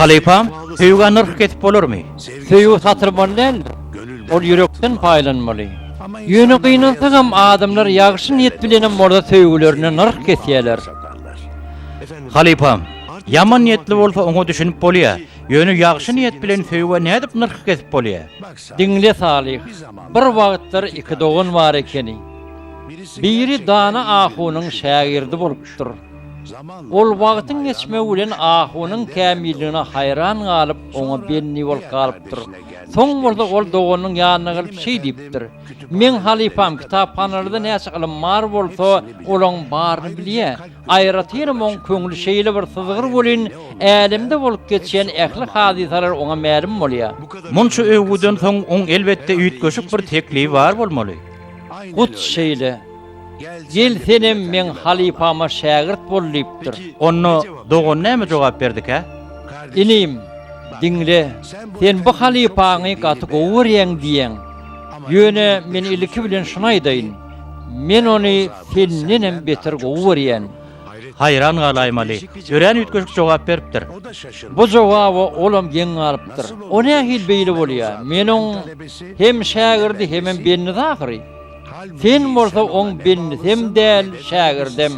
Halypa, söýgä nyrh kesip bolarmy? Söýgi satyr maly däldir. Ol ýürekden paýlanmaly. Ýöne gynansagam adamlar ýagşy niýet bilenem bolsa söýgülerine nyrh kesýärler. Halypa, ýaman niýetli bolsa oňa düşünip bolýar. Ýöne ýagşy niýet bilen söýgä nädip nyrh kesip bolýar? Diňle Salyh, bir wagtlar iki dogan bar ekeni. Biri dana ahunyň şägirdi bolupdyr. Ol wagtyň geçmegi bilen ahunyň kämilligine haýran galyp, oňa bendi bolup galypdyr. Soň bolsa ol doganynyň ýanyna gelip şeý diýipdir, Meň halypam kitaphanalarda näçe ylym bar bolsa, olaň baryny bilýä. Aýratynam oň köňli şeýle bir syzgyr welin, älemde bolup geçýän ähli hadysalar oňa mälim bolýa. Munça öwgüden soň oň elbetde üýtgeşik bir teklibi bar bolmaly. Hut şeýle. Gel senem meň halypama şägirt bol diýipdir. Onda dogan näme jogap berdikä? Inim, diňle, sen bu halypaňy gaty gowy görýäň diýýäň. Ýöne men ilki bilen şuny aýdaýyn, men ony sendenem beter gowy görýän. Haýran galaýmaly, örän üýtgeşik jogap beripdir. Bu jogaba olam geň galypdyr. O nähili beýle bolýar? Men oň hem şägirdi, hemem bendisi ahyry. Sen bolsa oň bendisem däl, şägirdem.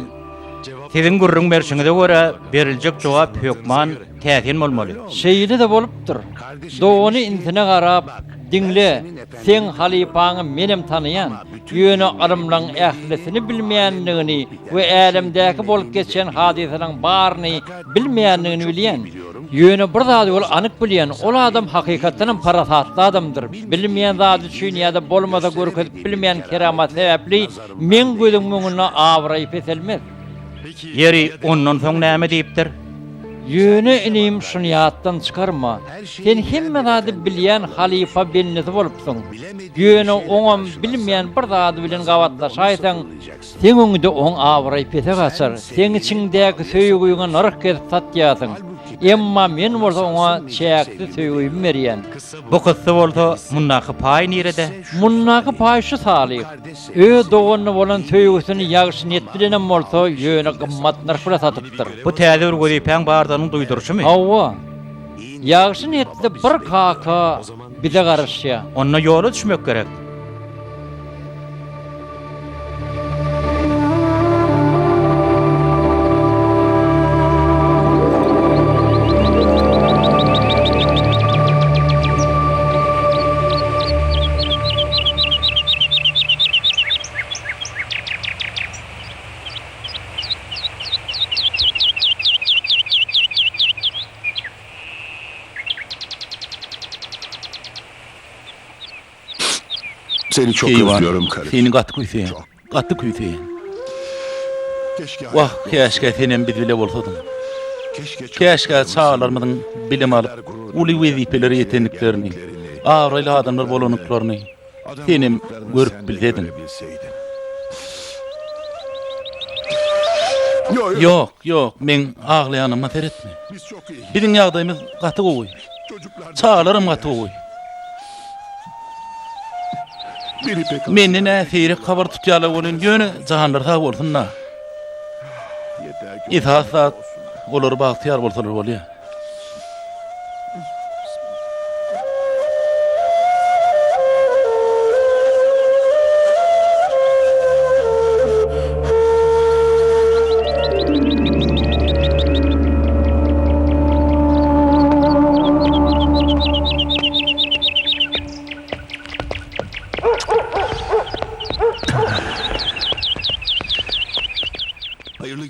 Siziň gürrüň berşiňize görä, beriljek jogap hökman täsin bolmaly. Şeýle-de bolupdyr. Dogany inisine garap, Diňle, seň halypaňy menem tanaýan, ýöne ylymlaň ählisini bilmeýändigini we älemdäki bolup geçýän hadysalaň baryny bilmeýändigini bilýän. Ýöne bir zady ol anyk bilýän, ol adam hakykatdan hem parasatly adamdyr. Bilinmeýän zady üçin ýa-da bolmasa görkezip bilmeýän keramat sebäpli meň gözüňiň öňünde abraýy peselmez. Ýeri, ondan soň näme diýipdir? Ýöne, inim, şuny ýatdan çykarma, sen hemme zady bilýän halypa bendesi bolupsyň. Ýöne oňam bilmeýän bir zady bilen gabatlaşaýsaň, Seň öňüňde oň abraýy pese gaçar, seň içiňdäki söýgiňi nyrh gezip satýarsyň, emma Men bolsa oňa çäksiz söýgimi berýän. Bu kyssa bolsa mundaky paý nirede? Mundaky paý şu Salyh, öz doganyna bolan söýgüsini ýagşy niýet bilenem bolsa, ýöne gymmat nyrh bilen satypdyr. Bu täze bir wezipäň bardygynyň duýduryşymy? Hawa. Ýagşy niýetli bir kaka. Bize garaşýar. Onda ýola düşmek gerek. Seni çok Eyvah, özlüyorum kardeşim. seni gaty küýseýän, Çok. gaty küýseýän. Keşke Wah, hayatta käşgä olsaydın. senem biz bile bolsadyň. Keşke Käşgä çocuklarımız çagalarymyzyň bilim alyp, seninle beraber gurur uly duyan, wezipelere ýetendiklerini, ýetendiklerini, abraýly adamlar bolandyklaryny, Senem görüp bilsediň. Ýok, ýok, meň aglaýanyma seretme. Biziň ýagdaýymyz gaty gowy. Çagalaram gaty gowy. Menden-ä seýrek habar tutýarlar welin, ýöne janlary sag bolsun-da. Esasy zat, olar bagtyýar bolsalar bolýar.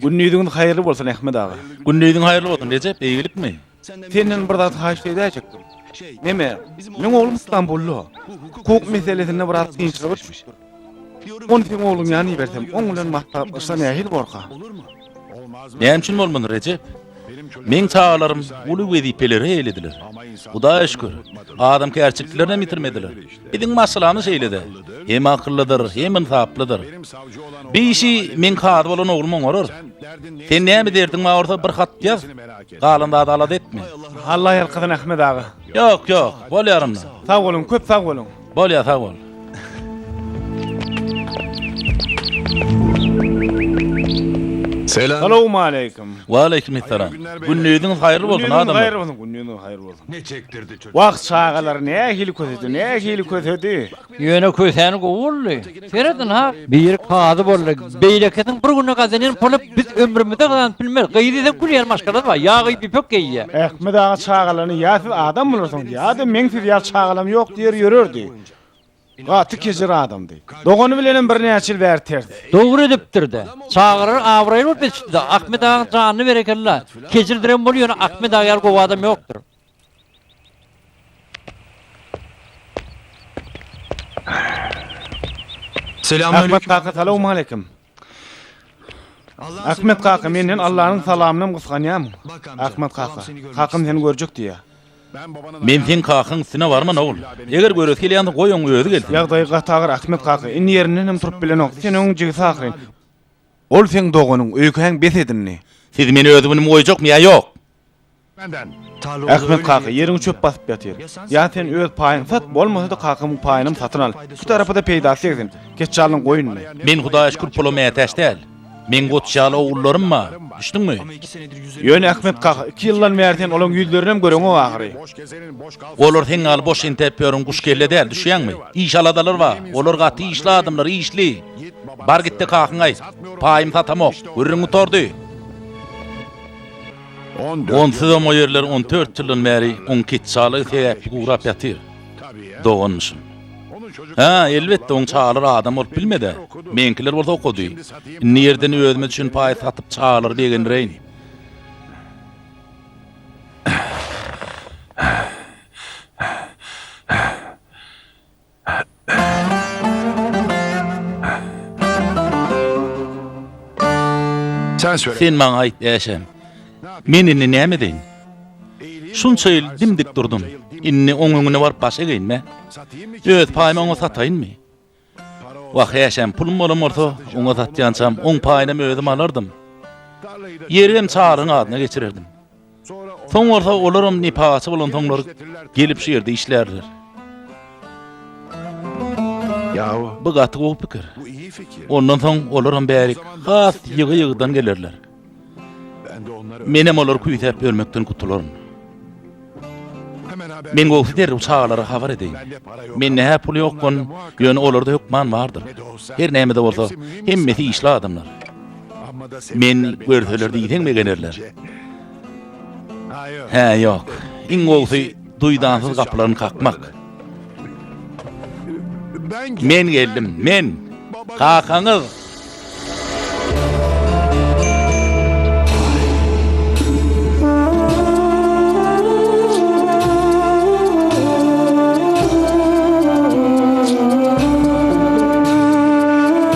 Gündiziňiz haýyrly bolsun Ahmet aga. Gündiziň haýyrly bolsun, Rejep, eýgilikmi? Senden bir zat haýyşt edäýjekdim. Neme? Meň oglum Stambulda. Hukuk meselesinde biraz kynçylyga düşmüş. Ony seň ogluň ýanyna ibersem, oň bilen maslahatlaşsa nähili bolarka? Näme üçin bolmady, Rejep? Meň çagalarym uly wezipeleri eýelediler. Hudaýa şükür, adamkärçiliklerini hem ýitirmediler. Biziň maşgalany şeýle-de, hem akyllydyr, hem ynsaplydyr. Bir işi meň kazy bolan oglum oňarar. Sen näme derdiň bar bolsa, bir hat ýaz, galan zady alada etme. Allah ýalkasyn, Ahmet aga. Ýok, ýok, bolýar onda. Sag boluň, köp sag boluň. Bolýar, sag bol. Salowmaleýkim. Waleýkimessalam. Gündiziňiz haýyrly bolsun, adamlar. Gündiziňiz haýyrly bolsun. Wah, çagalar nähili kösedi, nähili kösedi! Ýöne kösäni gowy boldy. Serediň-ha! Biri kazy boldy. Beýlekisiň bir günde gazanýan puly biz ömrümizde gazanyp bilmeris. Gyz diýseň gülýän maşgalady bar. Ýa gyz ýüpek geýýä. Ahmet aga çagalaryna ýa siz adam bolarsyňyz, ýa-da meň siz ýaly çagalarym ýok diýer ýörerdi. Gaty kejir adamdy. Dogany bilenem birnäçe ýyl bäri ters. Dogry edipdir-de. Çagalar abraýly bolup ýetişdi-de. Ahmet agaň janyna berekella. Kejirdirem boldy, ýöne Ahmet aga ýaly gowy adam ýokdur. Ahmet kaka salawmaleýkim. Ahmet kaka menden Allanyň salamynam gysganýam. Ahmet kaka, kakam seni görjek diýýär. Men seň kakaň üstüne barman ogul. Eger göresi gelýändir goý oň özi gelsin. Ýagdaýy gaty agyr Ahmet kaka, indi ýerindenem turup bilenok. Sen oň jigisi ahyryn. Ol seň doganyň, öýkäň bes edindi. Siz meni özübilim goýjakmy ýa ýok? Ahmet kaka ýeriňi çöp basyp ýatyr. Ýa sen öz paýyňy sat, bolmasa-da kakamyň paýynam satyn al. Iki tarapa-da peýdasy degsin. Keçje alyň goýnuny. Men Hudaýa şükür pula mätäç däl. Meň goç ýaly ogullarym bar. Düşdüňmi? Ýöne Ahmet kaka, iki ýyldan bäri sen olaň ýüzlerinem göreňok ahyry. Olar seň ýaly boş entäp ýören guş kelle däl, düşýäňmi? Iş aladalary bar. Olar gaty işli adamlar, işli. Bar git-de kakaňa aýt. Paýymy satamok. Gürrüň gutardy. Onsuzam o ýerler on dört ýyldan bäri oň ketçalygy sebäpli gurap ýatyr, doganmyşym. Hä, elbetde, oň çagalar adam bolup bilmedi. Meňkiler bolsa okady. Indi ýerden özümiz üçin paý satyp çagalary begendireýin. Sen maňa aýt, Äşem, men indi näme edeýin? Şunça ýyl dim-dik durdum, indi oň öňüne baryp baş egeýinmi? Öz paýymy oňa sataýynmy? Wah, Äşem, pulum bolan bolsa, oňa satýançam, oň paýynam özüm alardym. Ýerem Çaryň adyna geçirerdim. Soň bolsa olaram nepagatçy bolansoňlar gelip şu ýerde işlärler. Bu gaty gowy pikir. Ondan soň olaram bärik has ýygy-ýygydan gelerler. Menem olary küýsäp ýörmekden gutularyn. Men gowsy derrew çagalara habar edeýin. Mende-hä pul ýok, ýöne olarda hökman bardyr. Her näme-de bolsa, hemmesi işli adamlar. Men görseler diýseň begenerler. Hä, ýok. Iň gowusy duýdansyz gapylaryny kakmak. Men geldim, men. Kakaňyz.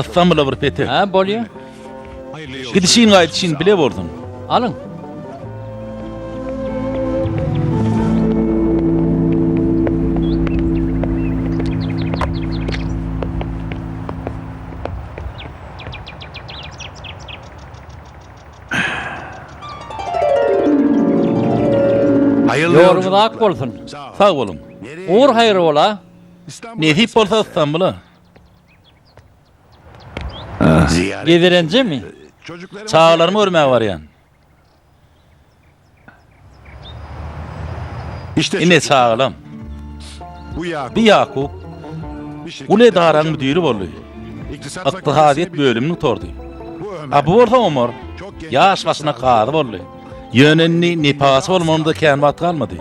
Ystambula bir petek. Hä, bolýa. Gidişin gaýdyşyn bile bolsun. Alyň. Ýoluňyz ak bolsun. Sag boluň. Ugur haýyr bola. Nesip bolsa Ystambula. Gidirenjemi? Çagalarymy görmäge barýan. Ine çagalam. Bu Ýakup. Uly edaranyň müdiri boldy. Ykdysadyýet bölümini gutardy. A bu bolsa Omar. Ýaş başyna kazy boldy. Ýöne indi nipasy bolmagynda kän wagt galmady.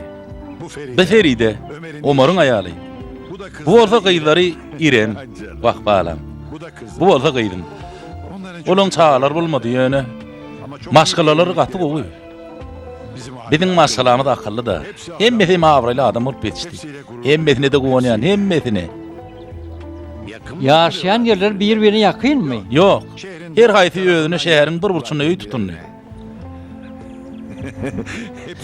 Bi Feride, Omaryň aýaly. Bu bolsa gyzlary Iren, wah balam. Bu bolsa gyzym. Olaň çagalary bolmady, ýöne maşgalalary gaty gowy. Biziň maşgalamyz akylly-da. Hemmesi hem abraýly adam bolup ýetişdi. Hemmesine-de guwanýan, hemmesine. Ýaşaýan ýerleri bir-birine ýakynmy? Ýok. Her haýsy özüne şäheriň bir burçunda öý tutundy.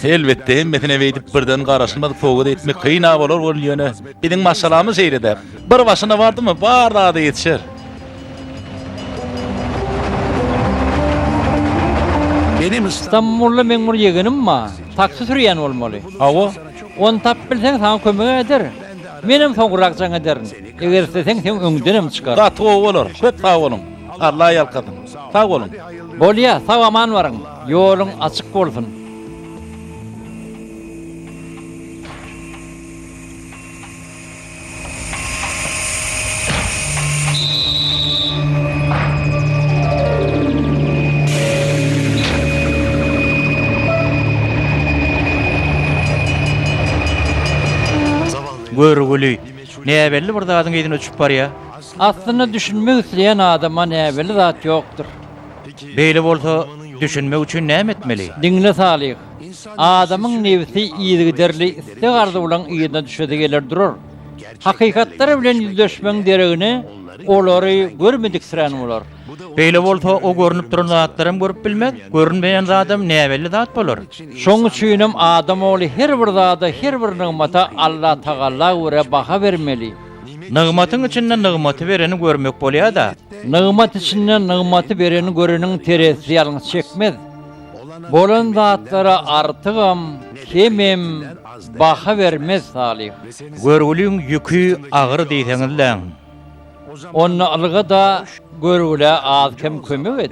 Elbetde hemmesine beýdip birden garaşylmaz sowgat etmek kyn-a bolar welin ýöne biziň maşgalamyz şeýle-dä. Bir başyna bardymy bar zada ýetişer. Stambulda meň bir ýegenim bar. Taksi sürýän bolmaly. Hawa. Ony tapyp bilseň saňa kömek eder. Menem soňrak jaň ederin. Eger isleseň seň öňüňdenem çykar. Gaty gowy bolar. Köp sag boluň. Allah ýalkasyn. Sag boluň. Bolýa sag aman baryň ýoluň açyk bolsun. Görgüli. Näbelli bir zadyň yzyna uçup barýa. Aslynda düşünmek isleýän adama näbelli zat ýokdur. Beýle bolsa, düşünmek üçin näme etmeli? Diňle Salyh. Adamyň nebsi yzygiderli isleg-arzuwlaryň yzyna düşesi geler durar. Hakykatlar bilen ýüzleşmegiň deregine olary görmediksirän bolar. Beýle bolsa, o görnüp duran zatlaram görüp bilmez, görünmeýän zadam näbelli zat bolar. Şonuň üçinem adam ogly her bir zada, her bir nygmata Allatagala görä baha bermeli. Nygmatyň içinde nygmaty bereni görmek bolýar-da. Nygmat içinde nygmaty bereni göreniň terezisi ýalňyş çekmez. Bolan zatlara artygam, kemem baha bermez, Salyh. Görgüliň ýüki agyr diýseňiz-le. Onda ylga-da görgülä az-kem kömek et.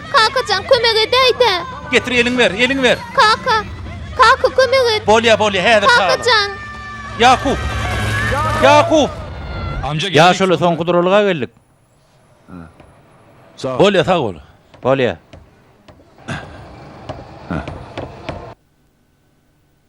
Kakajan kömek edäýdä. Getir eliň ber, eliň ber. Kaka. Kaka kömek et. Bolýa bolýa häzir çagalar. Kakajan. Ýakup. Ýakup. Amca geldik. Ýaşuly soňky duralyga geldik. Bolýa sag bol. Bolýa.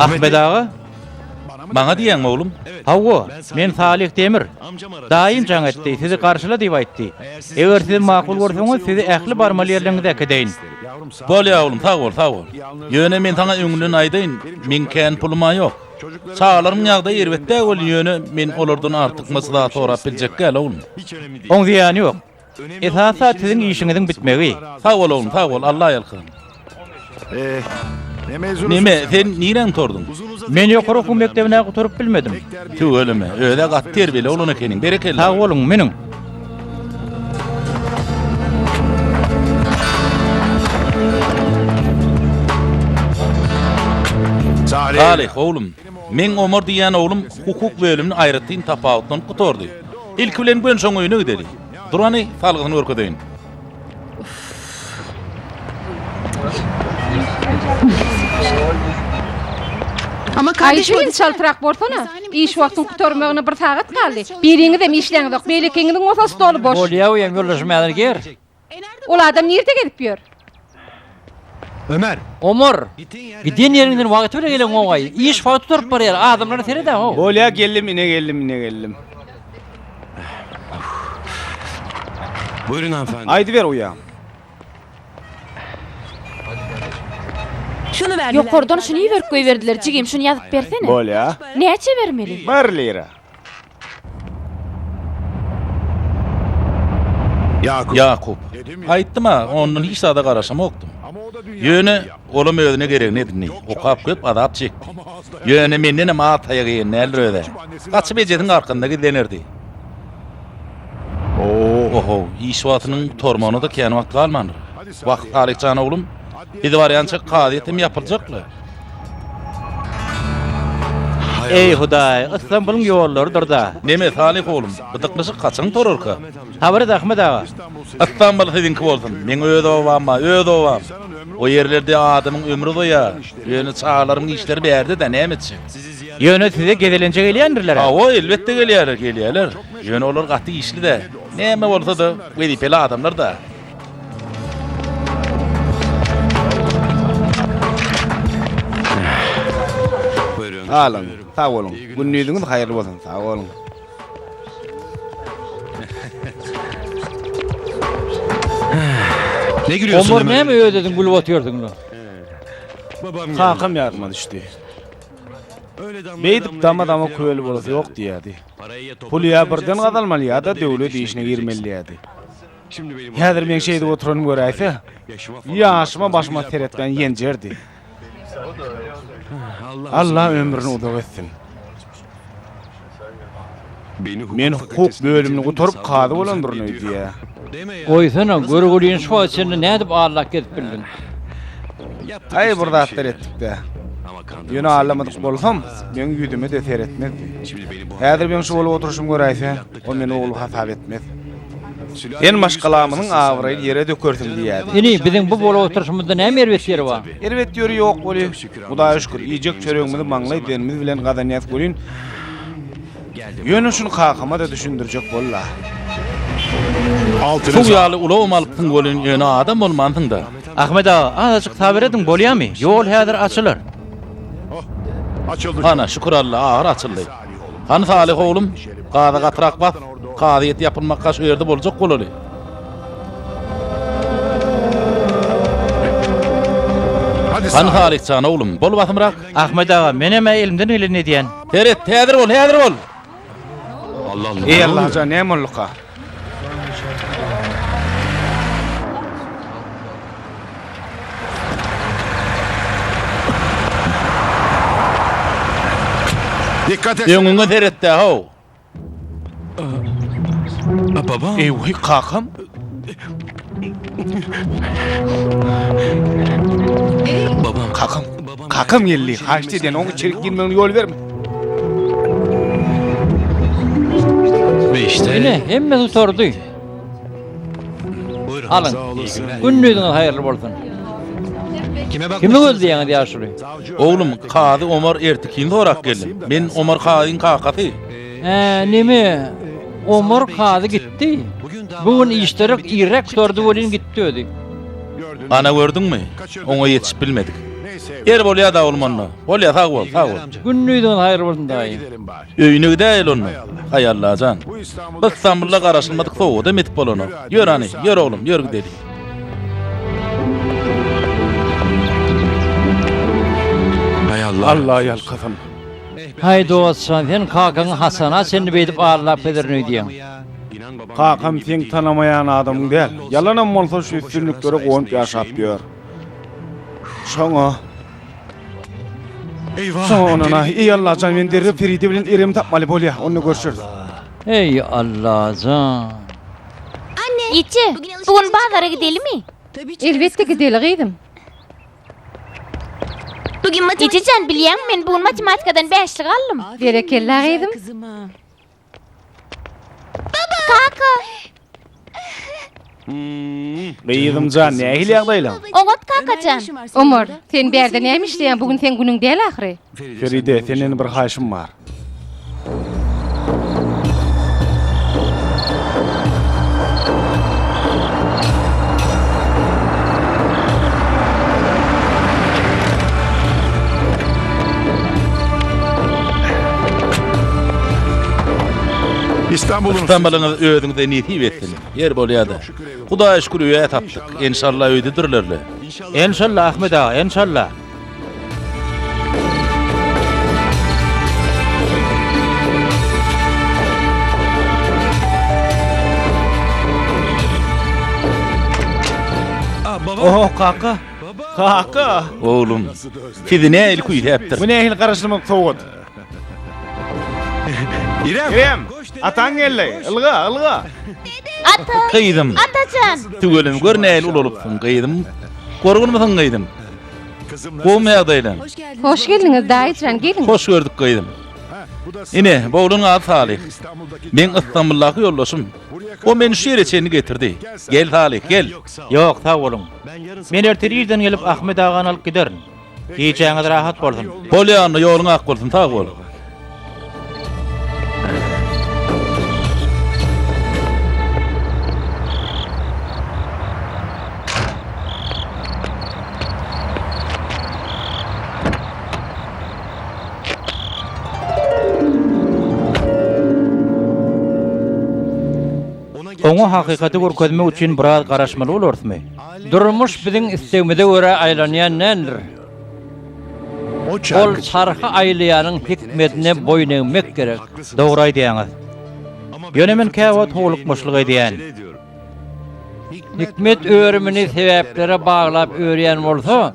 Ahmet aga, maňa diýeň oglum. Hawa, men Salyh Demir. Daýym jaň etdi, sizi garşyla diýip aýtdy. Eger siz makul görseňiz, sizi ähli barmaly ýerleriňize äkedeýin. Bolýar oglum, sag bol, sag bol. Ýöne men saňa öňünden aýdaýyn, meň kän pulum-a ýok. Çagalaryň ýagdaýy erbet-dä welin, ýöne men olardan artykmaç zat sorap biljek däl, oglum. Oň zyýany ýok. Esasy siziň işiňiziň bitmegi. Sag bol oglum sag bol Alla ýalkasyn. Neme sen niräň torduň. Men ýokary okuw mekdebinä gutaryp bilmedim. Tüweleme, özä gaty terbiýeli oglan ekeniň, berekella. Sag boluň, miniň. Salyh oglum. Meň Omar diýýän oglum hukuk bölümini aýratyn tapawutlanyp gutardy. Ilki bilen Gönşaň öýüne gideli. Durany, salgysyny görkezeýin. Aý, şeýle çaltrak bolsana. Iş wagtyň gutarmagyna bir sagat galdy. Biriňizem işläňizok, beýlekiňiziň bolsa stoly boş. Bolýa, uýam, ýoldaşym häzir geler. Ol adam nirde gezip ýör? Ömer. Omar. Giden ýeriňden wagty bilen gelen goňaý. Iş wagty durup barýar. Adamlara seredä how. Bolýa geldim ine geldim ine geldim. Buyurun hanımefendi. Aýdyber uýam. Şuny ber. Ýokardan şuny iberip goýberdiler jigim şuny ýazyp bersene. Bolýa. Näçe bermeli? Bir lira. Ýakup, Aýtdym-a, ondan hiç zada garaşamokdym. Ýöne, olam özüne geregini edindi, okap köp azap çekdi. Ýöne, mendenem at aýak eýen däldir öz-ä. Gaçyp ejesiniň arkasynda gizlenerdi. O-ho, iş wagtynyň gutarmagyna-da kän wagt galmandyr. Wah, Salyh jan oglum, biz barýança kazyýetem ýapyljak-la. Eý, Hudaý, Ystambulyň ýollarydyr-da. Neme, Salyh oglum, bu dyklyşyk haçan turarka? Habar et, Ahmet aga. Ystambuly siziňki bolsun, meň öz obam-a, öz obam. O ýerlerde adamyň ömri uzaýar. Ýöne çagalaryň işleri bärde-dä, näme etjek? Ýöne size gezelenje gelýändirler-ä? Hawa, elbetde gelýärler, gelýärler. Ýöne olar gaty işli-dä. Näme bolsa-da, wezipeli adamlar-da. Salam, sag boluň. Gündiziňiz haýyrly bolsun. Sag boluň. Ne gülüyorsun? Omar näme ödedim gülüp otyrdun lan? Babam Kakam yardıma düşdi. Beýdip dama dama köýeli bolası ýok diýýärdi. Puly ýa birden gazalmaly ýa-da döwlet işine girmeli diýýärdi. Häzir meň şeýdip oturanymy göräýse, ýaşyma başyma seretmän ýenjerdi. Alla ömrüni uzak etsin. Men hukuk bölümini gutaryp kazy bolandyryn öýdýär. Goýsana, görgüliň şu wagta çenli nädip aglap gezip bildiň? Aý bir zatlar etdik-dä. Ýöne aglamadk bolsam, meň ýüzüme-de seretmezdi. Häzir meň şu bolup oturyşymy göräýse, ol meni ogly hasap etmez. Sen maşgalamyzyň abraýyny ýere dökersiň diýýärdi. Ine, biziň bu bolup oturyşymyzda näme erbet ýeri bar? Erbet ýeri ýok weli, Hudaýa şükür, iýjek çöregimizi maňlaý derimiz bilen gazanýas welin, Ýöne şuny kakama-da düşündirjek bol-la. Altynjy. Suw ýaly ulagam alypsyň welin ýöne adam bolmansyň-da. Ahmet aga, azajyk sabyr ediň, bolýamy? Ýol häzir açylar. Hana, şükür Alla, ahyr açyldy. Hany Salyh oglum, gaza gatyrak bas, kazyýet ýapylmakka şu ýerde boljak bolaly. Hany Salyh jan oglum, bol basymrak. Ahmet aga, menem-ä elimden geleni edýän. Seret, häzir bol, häzir bol. Allah Allah. Ey Allah ja näme bolduka? Dikkat et. Öňüňe seretde ho. Baba. Eý, wah, kakam. Babam, kakam. Kakam geldi. Haýyşt edýän, oňa içerik girmegine ýol berme. Beýşde. Ine, hemme tutardy. Alyň. Gündiziňiz haýyrly bolsun. Kimi gözleýäňiz ýaşuly? Oglum, kazy Omar Ertikini sorap geldim. Men Omar kazyň kakasy. Hä, neme, Omar kazy gitdi? Bu gün işderäk irräk gutardy welin gitdi özi. Ana gördüňmi? Oňa ýetişip bilmedik. Ýeri bolýa-da oglum onda. Bolýa, sag bol, sag bol. Gündiziňiz haýyrly bolsun daýy. Öýüne gidäýeli onda, Aýallajan. Biz Stambulda garaşylmadyk sowgada metip bolanok. Ýör hany, ýör oglum, ýör gideli. Alla ýalkasyn. Haý dostjan, sen kakaňy Hasana çenli beýdip allap pederin öýdýäň. Kakam seň tanamaýan adamyň däl. Ýalanam bolsa şu üstünliklere gowunyp ýaşap ýör. Şoňa. Eýwa! Soň onana, Eý Allajan, men derrew Feride bilen erimi tapmaly bolýa, onda görşeris. Eý Allajan! Ýitje, bu gün bazara gidelimi? Elbetde gideli, gyzym. Ýitje jan, bilýäňmi, men bu gün matematikadan bäşlik aldym. Berekella, gyzym. Gyzymjan, nähili ýagdaýlaň? Oňat, kakajan. Omar, sen bärde näme işleýäň, bu gün seň günüň däl ahyry? Feride, senden bir haýyşym bar. Istambalyňyz özüňize nesip etsin. Ýer bolýada. Hudaýa şükür öýä tapdyk. Enşalla öýdedirlerle. Enşalla Ahmet aga, enşalla. Ohoh kaka. Kaka! Oglum, sizi nähili küýsäpdir? Bu nähili garaşylmadyk sowgat? Irem! Ataň geldi! Ylga, ylga! Ata! Gyzym! Atajan! Tüweleme gör nähili ulalypsyň, gyzym! Gorgunmysyň, gyzym? Gowmy ýagdaýlaň? Hoş geldiňiz, daýyjan, geliň! Hoş gördük, gyzym! Ine, bu oglunyň ady Salyh. Meň Ystambuldaki ýoldaşym. O meni şu ýere çenli getirdi. Gel, Salyh, gel! Ýok, sag boluň. Men ertir irden gelip Ahmet agany alyp giderin. Gijäňiz rahat bolsun. Bolýa onda ýoluň ak bolsun sag bol. Oňa hakykaty görkezmek üçin biraz garaşmaly bolarysmy? Durmuş biziň islegimize görä aýlanýan däldir. Ol çarhy aýlaýanyň hikmetine boýun egmek gerek. Dogry aýdýaňyz. Ýöne men käwagt howlukmaçlyk edýän. Hikmet örümini sebäplere baglap örýän bolsa,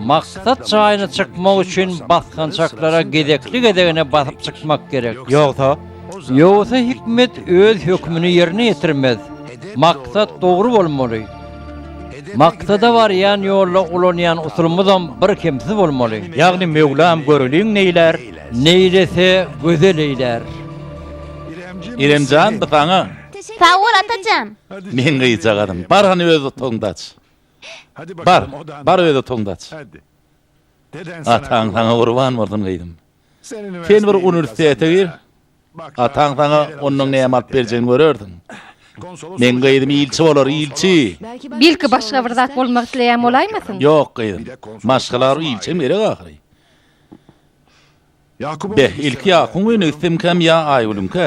Maksat jaýyna çykmak üçin basgançaklara gezekli-gezegine basyp çykmak gerek. Ýogsa? Ýogsa hikmet öz hökümini ýerine ýetirmez. Maksat dogry bolmaly. Maksada barýan ýolda ulanýan usulymyzam birkemsiz bolmaly. Ýagny Möwlam göreliň neýlär? Neýlese gözel eýlär. Irem jan, bu saňa. Sag bol, Atajan! Meň gyzjagazym, bar hany öz otagyňda aç. Bar, bar öz otagyňda aç. Ataň saňa gurban bolsun gyzym. Sen bir uniwersitete gir, ataň saňa ondan näme alyp berjegini görersiň. Meň gyzym ilçi bolar, ilçi. Belki başga bir zat bolmak isleýän bolaýmasyn? Ýok gyzym, maşgala bar, ilçem gerek ahyry. Beh, ilki Ýakuň öýüne gitsemkäm ýa Aýgülüňkä?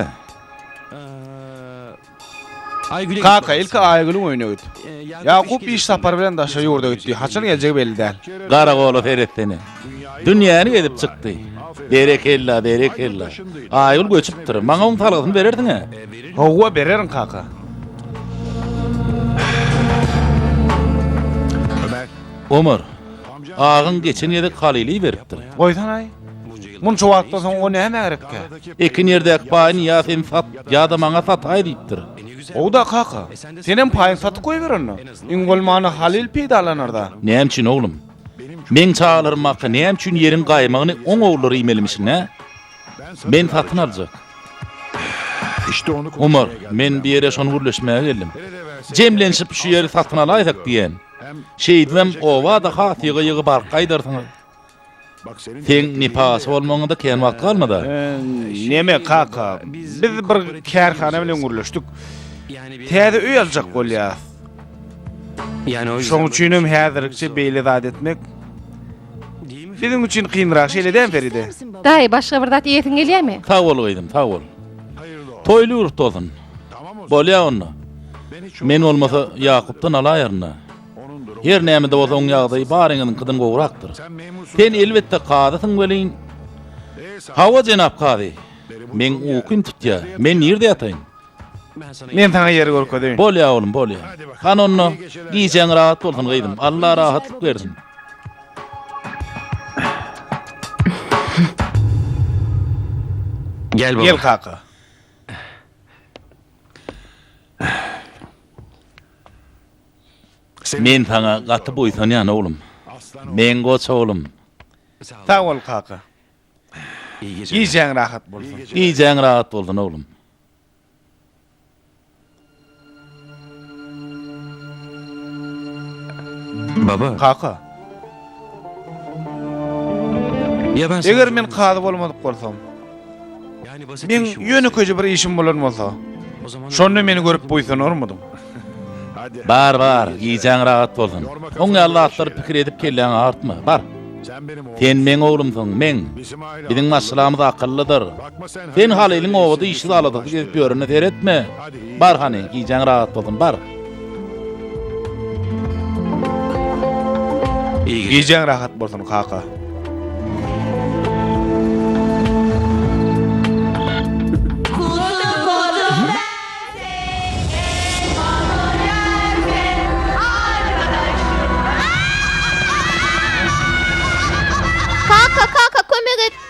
Kaka, ilki Aýgülüň öýüne git. Ýakup iş sapary bilen daşary ýurda gitdi, haçan geljegi belli däl. Garagola seretsene. Dünýäni gezip çykdy. Berekella, berekella. Aýgül göçüpdir. Maňa oň salgysyny berersiň-ä? Hawa, bererin, kaka. Ömer. Agaň geçen gezek halyly beripdir. Goýsanaý. Munça wagtdan soň o nämä gerekkä? Ekin ýerdäki paýyny ýa sen sat, ýa-da maňa sataý diýipdir. Gowy-da, kaka. Senem paýyňy satyp goýber onda. Iň bolmanda Halyl peýdalanar-da. Näme üçin, oglum? Meň çagalarym barka näme üçin ýeriň gaýmagyny oň ogullary iýmelimişin-ä? Men satyn aljak. Omar, men bu ýere şony gürleşmäge geldim. Jemlenişip şu ýeri satyn alaýsak diýýän. Şeýdibem, oba-da has ýygy-ýygy balyk gaýdarsyňyz. Seň nepasy bolmagyňa-da kän wagt galmaz-a. Näme, kaka, biz bir kärhana bilen gürleşdik. Täze öý aljak bolýarys. Şoň üçinem häzirlikçe beýle zat etmek biziň üçin kynrak, şeýle dämi, Feride? Daýy, başga bir zat iýesiň gelýärmi? Sag bol, gyzym, sag bol. Toýly ýurt bolsun! Bolýa onda. Men bolmasa Ýakupdan alaýaryn-da. Her näme-de bolsa oň ýagdaýy baryňyzyňkydan gowrakdyr. Sen elbetde kazysyň welin. Hawa jenap kazy. Meň ukym tutýa. Men nirde ýataýyn? Men saňa ýer görkezeýin. Bolýa oglum, bolýa. Hany onda, gijäň rahat bolsun gyzym. Alla rahatlyk bersin. Gel baba. Gel kaka. Men saňa gaty buýsanýan, oglum. Meň goç oglum. Sag bol, kaka. Gijäň rahat bolsun. Gijäň rahat bolsun, oglum. Baba. Kaka. Eger men kazy bolmadyk bolsam. Meň ýönekeje bir işim bolan bolsa. Şonda meni görüp buýsanarmydyň? Bar, bar, gijäň rahat bolsun. Oň ýaly zatlary pikir edip kelläňi agyrtma. Bar. Sen meň oglumsyň, meň. Biziň maşgalamyz akyllydyr. Sen Halylyň obada işsiz aladasy gezip ýörene seretme. Bar hany, gijäň rahat bolsun, bar. Gijäň rahat bolsun, kaka. Kaka, kaka, kömek et!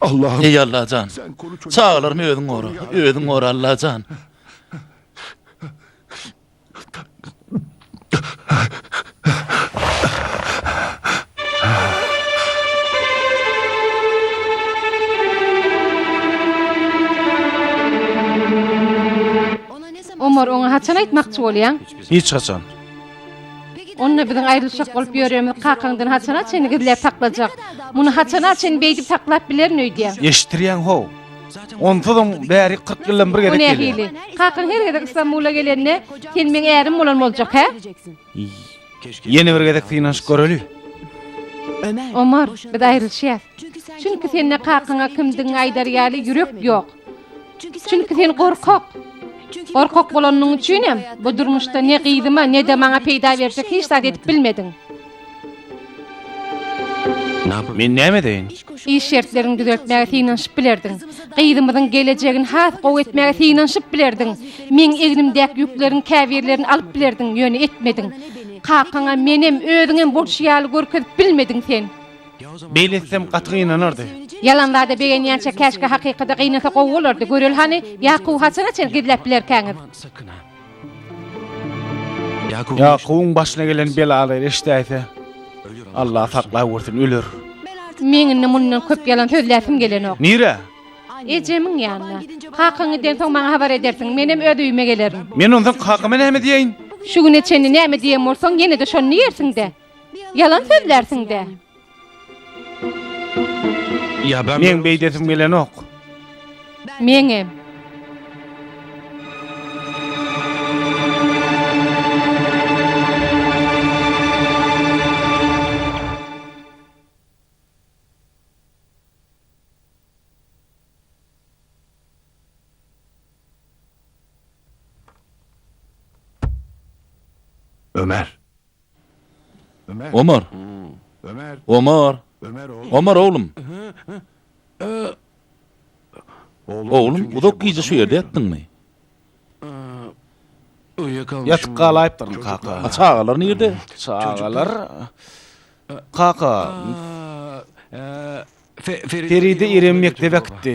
Allahym. Eý Allajan. Çagalarymy özüň gora. Özüň gora Allajan. Omar oňa haçan aýtmakçy bolýaň? Hiç haçan. Onda biziň aýrylyşjak bolup ýöremiz kakaňdan haçana çenli gizläp saklajak? Muny haçana çenli beýdip saklap bilerin öýdýäň? Eşitdirýäň-how? Onsuzam bäri kyrk ýyldan bir gezek gelýär. O nähili? Kakaň her gezek Stambula gelende, sen meň ärim bolan boljak, hä? Ýene bir gezek synanyşyp göreli. Omar, biz aýrylyşýas. Çünki sende kakaňa kimdigiňi aýdar ýaly ýürek ýok. Çünki sen gorkak. Gorkak bolanyň üçin hem bu durmuşda ne gyzyma, ne-de maňa peýda berjek hiç zat edip bilmediň. Men näme edeýin? Iş şertlerini düzeltmäge synanyşyp bilerdiň. Gyzymyzyň gelejegini has gowy etmäge synanyşyp bilerdiň. Meň egnimdäki ýükleriň käbirlerini alyp bilerdiň, ýöne etmediň. Kakaňa menem, özüňem bolşy ýaly görkezip bilmediň sen. Beýle etsem gaty gynanardy. Ýalan zada begenýänçä käşgä hakykada gynasa gowy bolardy, göreli hany Ýakuby haçana çen gizläp bilerkäňiz? Ýakubyň başyna gelen belalary eşidäýse, Allah saklawursun, öler. Meň indi mundan köp ýalan sözläsim gelenok. Nirä? Ejemiň ýanyna. Kakaň gidensoň maňa habar edersiň, menem öz öýüme gelerin. Men onsoň kakama näme diýeýin? Şu güne çenli näme diýen bolsaň, ýene-de şony diýersiň-dä. Ýalan sözlärsiň-dä. Meň beýdesim gelenok. Meňem. Ömer. Omar! Omar! Omar oglum! Oglum, uzak gije şu ýerde ýatdyňmy? Ýatyp galaýypdyryn, kaka. A çagalar nirde? Çagalar? Kaka! Feride irem mekdebe gitdi.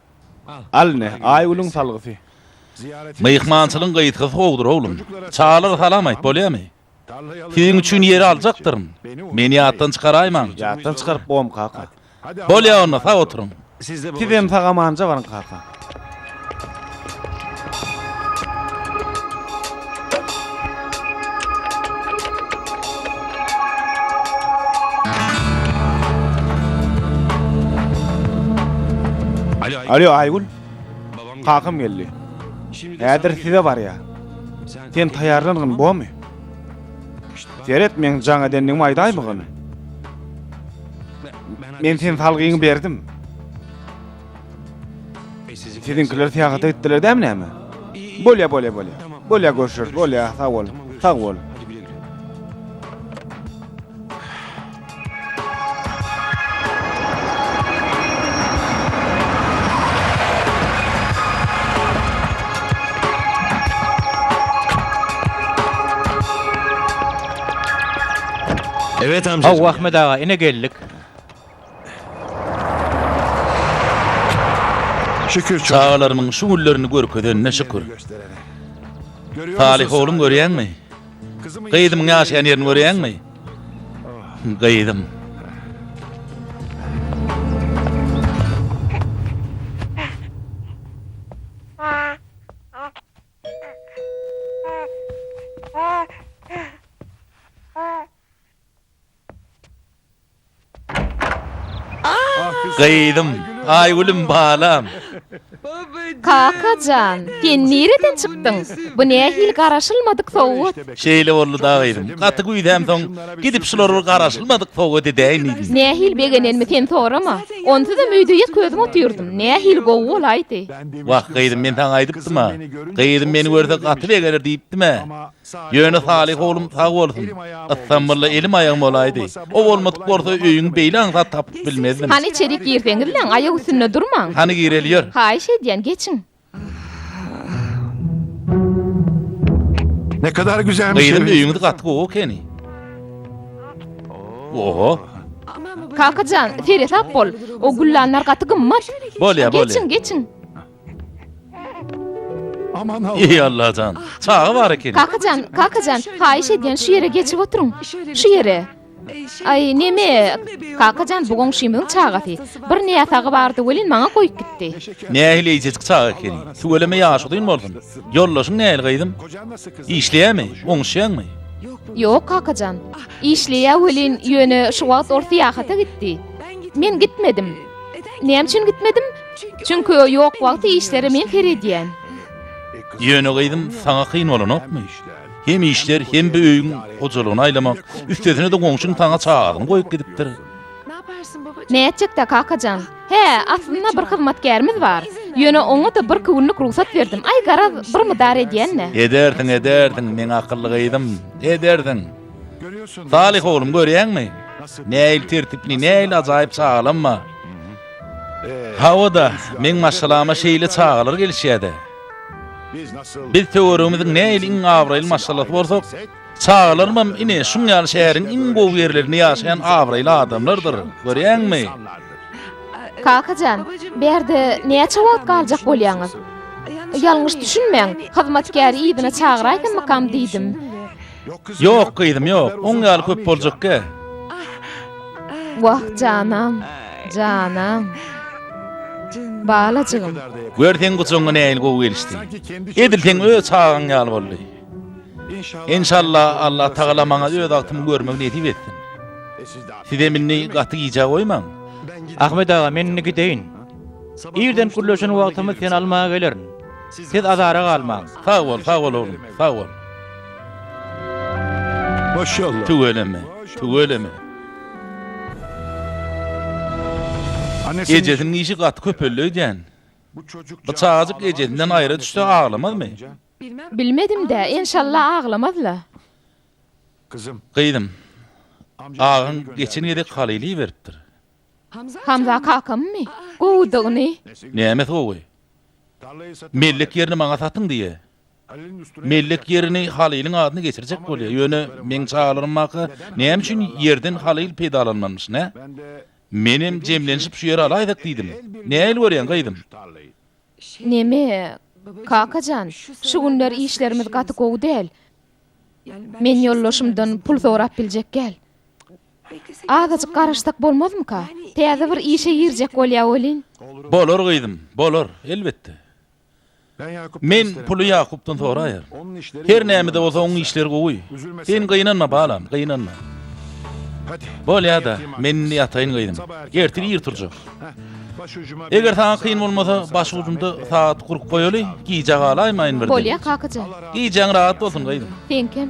Al ine, Aýgülüň salgysy. Myhmançylygyň gytgysy gowudyr, oglum. Çagalara salam aýt, bolýamy? Siziň üçin ýeri aljakdyryn. Meni ýatdan çykaraýmaň. Ýatdan çykaryp bom, kaka. Bolýa onda, sag oturyň. Sizem sag-amanja baryň, kaka. Alo Aýgül. Kakam geldi. Häzir size barýa. Sen taýýarlangyn, bomy? Seret men jaň edendigimi aýdaýmygyn. Men sen salgyňy berdim. Siziňkiler syýahata gitdiler dämi näme? Bolýa, bolýa, bolýa. Bolýa, görşeris, bolýa, sag bol, sag bol. Hawa, Ahmet aga, ine geldik. Şükür çocuklar. Çagalarymyň şu günlerini görkezenine şükür. Salyh ogluň görýäňmi? Gyzymyň ýaşaýan ýerini görýäňmi? Gyzym. Gyzym, Aýgülüm balam. Kaka jan, sen nireden çykdyň? Bu nähili garaşylmadyk sowgat? Şeýle boldy da gyzym. Gaty güýzämsoň, gidip şulary bir garaşylmadyk sowgat edäýin diýdim. Nähili begenenimi sen sorama. Onsuzam öýde ýek özüm otyrdym. Nähili gowy bolaýdy. Wah, gyzym, men saňa aýdypdym-a. Gyzym meni görse gaty begener diýipdim-ä. Ýöne Salyh oglum sag bolsun. Ysam bolla elim aýagym bolaýdy. O bolmadyk bolsa öýüň beýle aňsat tapyp bilmezdim. Hany içerik girseňizläň, aýak üstünde durmaň. Hany gireli ýör. Haýyş edýän, geçiň. Gyzym öýüňiz gaty gowy ekeni. Oho. Kaka jan, seresap bol. O güllanlar gaty gymmat. Bolýa, bolýa. Geçiň, geçiň. Eý Allajan, çaga bar ekeni. Kakajan, kakajan, haýyş edýän şu ýere geçip oturyň. Şu ýere. Aý, neme? Kakajan, bu goňşymyzyň çagasy. Bir näsagy bardy welin maňa goýup gitdi. Nähili eýjejik çaga ekeni. Tüweleme ýaşy uzyn bolsun. Ýoldaşyň nähili gyzym? Işleýärmi? Oňuşýaňmy? Ýok, kakajan. Işleýär welin, ýöne şu wagt ol syýahata gitdi. Men gitmedim. Näme üçin gitmedim? Çünki o ýok wagty işlere men seredýän. Ýöne gyzym, saňa kyn bolanokmy? Hem işler, hem bu öýüň hojalygyny aýlamak, üstesine-de goňşyň saňa çagasyny goýup gidipdir. Nätjek-dä, kaka jan? Hä, aslynda bir hyzmatgärimiz bar. Ýöne oňa-da birki günlük rugsat berdim. Aý, garaz, bir mydar edýän-dä. Edersiň, edersiň, meň akylly gyzym, edersiň. Salyh oglum, görýäňmi? Nähili tertipli, nähili ajaýyp çagalanma! Hawa-da, meň maşgalama şeýle çagalar gelişýä-dä. Biz töweregimiziň nähili iň abraýly maşgalasy bolsak, çagalarymam ine şuň ýaly şäheriň iň gowy ýerlerinde ýaşaýan abraýly adamlardyr, görýäňmi? Kaka jan, bärde näçe wagt galjak bolýaňyz? Ýalňyş düşünmäň, hyzmatkäri yzyna çagyraýsammykam diýdim. Ýok, gyzym, ýok. Oň ýaly köp boljakkä. Wah, janam, janam. Balajygym. Gör, seň gujagyňa nähili gowy gelişdi. Edil seň öz çagaň ýaly boldy. Enşalla, Allah tagala maňa öz agtymy görmegi nesip etsin. Sizem indi gaty gijä goýmaň. Ahmet aga, men indi gideýin. Irden gürleşen wagtymyz seni almaga gelerin. Siz azara galmaň. Sag bol, sag bol, oglum, sag bol. Maşallah. Tüweleme, tüweleme. Ejesiniň işi gaty köpeldi öýdýän. Bu çagajyk ejesinden aýra düşse aglamazmy? Bilmedim-dä, enşalla aglamaz-la. Gyzym, agaň geçen gezek halyly iberipdir. Hamza kakammy? Gowydygyny. Nämesi gowy? Mellek ýerini maňa satyň diýýä. Mellek ýerini Halylyň adyna geçirjek bolýa. Ýöne meň çagalarymaka näme üçin ýerden Halyl peýdalanmanmyş, nä? Menem jemlenişip şu ýeri alaýdyk diýdim. Nähili görýäň, gyzym? Neme, kaka jan, şu günler işlerimiz gaty gowy däl. Men ýoldaşymdan pul sorap biljek gäl. Azajyk garaşsak bolmazmyka? Täze bir işe girjek bolýa welin. Bolar gyzym, bolar, elbetde. Men puly Ýakupdan soraýar. Her näme-de bolsa oň işleri gowy. Sen gynanma balam, gynanma. Bolýa-da, men indi ýataýyn gyzym. Ertir ir turjak. Eger saňa kyn bolmasa, baş ujunda sagat gurup goýaly, gijä galaýmaýyn birden. Bolýa kakajan. Gijäň rahat bolsun gyzym. Seňkem.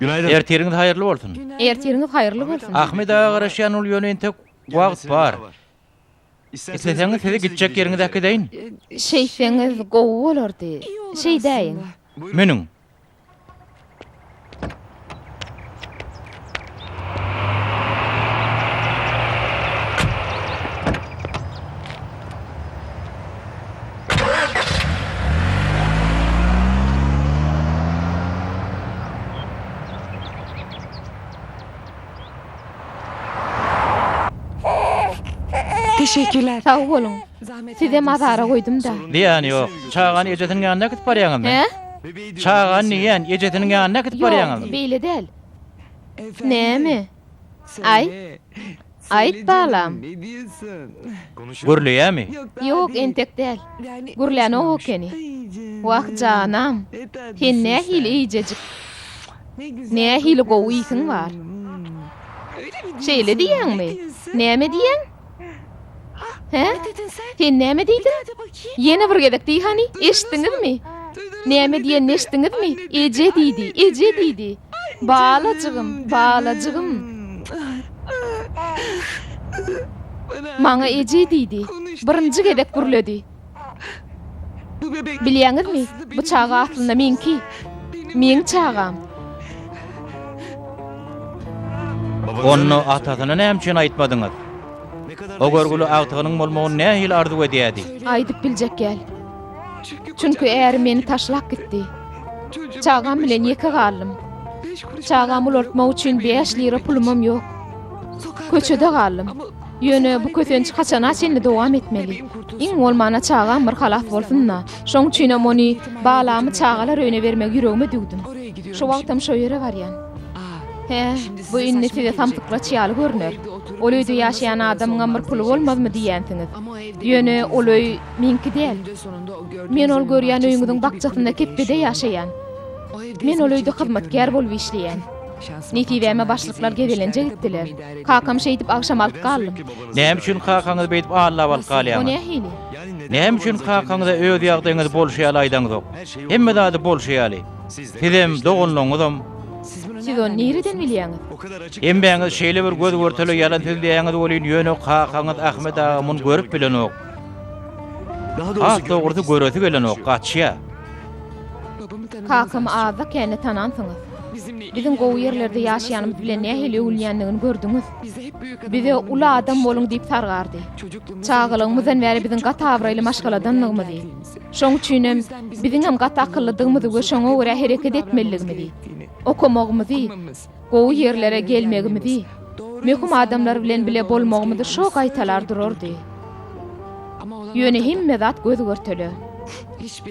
Günaydın. Ertiriňiz haýyrly bolsun. Ertiriňiz haýyrly bolsun. Ahmet aga garaşýan ol ýöne entek wagt bar. Isleseňiz sizi gitjek ýeriňize äkideýin. Şeýtseňiz gowy bolardy. Şeýdäýiň. Münüň. Teşekkürler. Sag boluň. Sizem azara goýdum-da. Zyýany ýok. Çagany ejesiniň ýanyna äkidip barýaňyzmy? Hä? Çaga niýen, ejesiniň ýanyna äkidip barýaňyzmy? Ýok, beýle däl. Näme? Aýt. Aýt, balam. Gürleýämi? Ýok, entek däl. Gürlänok ekeni. Wah, janam. Sen nähili eýjejik. Nähili gowy iýsiň bar. Şeýle diýýäňmi? Näme diýýäň? Hä? Sen näme diýdiň? Ýene bir gezek diý hany, eşitdiňizmi? Näme diýenini eşitdiňizmi? Eje diýdi, eje diýdi. Balajygym, balajygym. Maňa eje diýdi. Birinji gezek gürledi. Bilýäňizmi, bu çaga aslynda meňki. Meň çagam. Onda atasyna näme üçin aýtmadyňyz? O görgüli agtygynyň bolmagyny nähili arzuw edýärdi? Aýdyp biljek däl. Çünki ärim meni taşlap gitdi. Çagam bilen ýeke galdym. Çagamy ulaltmak üçin bäş lira pulumam ýok. Köçede galdym. Ýöne bu kösenç haçana çenli dowam etmeli? Iň bolmana çagam bir halas bolsun-da. Şoň üçinem ony, balamy çagalar öýüne bermegi ýüregime düwdüm. Şu wagtam şo ýere barýan. Hä, bu indi size samsyklaç ýaly görner. Ol öýde ýaşaýan adamyňam bir puly bolmazmy diýýänsiňiz. Ýöne ol öý meňki däl. Men ol görýän öýüňiziň bakjasynda kepbede ýaşaýan. Men ol öýde hyzmatkär bolup işleýän. Nesibäme başlyklar gezelenje gitdiler. Kakam şeýdip agşam alyp galdym. Näme üçin kakaňyzy beýdip allap alyp galýaňyz? O nähili? Näme üçin kakaňyza öz ýagdaýyňyzy bolşy ýaly aýdaňzok? Hemme zady bolşy ýaly. Sizem, doganlaryňyzam. Siz ony nireden bilýäňiz? Hemmäňiz şeýle bir göz-görtele ýalan sözleýäňiz welin, ýöne kakaňyz Ahmet aga muny görüp bilenok. Has dogrusy göresi gelenok, gaçýar. Kakam Aza käni tanansyňyz. Biziň gowy ýerlerde ýaşaýanymyz bilen nähili öwülýändigini gördüňiz. Bize uly adam boluň diýip sargardy. Çagalygymyzdan bäri biziň gaty abraýly maşgaladandygymyzy, şoň üçinem biziňem gaty akyllydygymyzy we şoňa görä hereket etmelidigimizi, okamagymyzy, Gowy ýerlere gelmegimizi, möhüm adamlar bilen bile bolmagymyzy şo gaýtalar durardy. Ýöne hemme zat göz-görtele.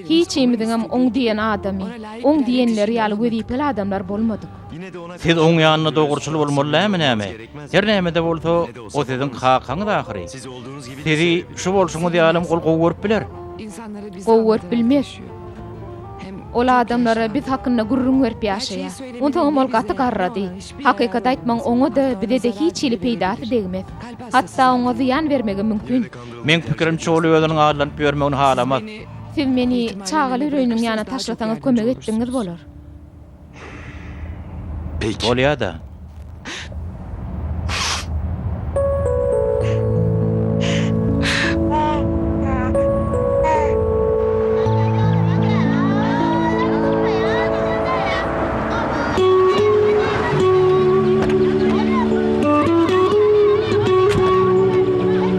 Hiçimiziňem oň diýen adamy, oň diýenleri ýaly wezipeli adamlar bolmadyk. Siz oň ýanyna dogruçyl bolmaly dälmi näme? Her näme-de bolsa, o siziň kakaňyz ahyry. Sizi şu bolşuňyz ýalym ol gowy görüp biler. Gowy görüp bilmez. Ol adamlara biz hakynda gürrüň berip ýaşaýar. Onsoňam ol gaty garrady. Hakykaty aýtmagyň oňa-da, bize-de hiç hili peýdasy degmez. Hatda oňa zyýan bermegem mümkin. Meň pikirimçe, ol özüniň aýlanyp ýörmegini halamaz. Siz meni çagaly üreýiniň ýanyna taşlasaňyz kömek etdigiňiz bolar. Pek. Bolýa-da.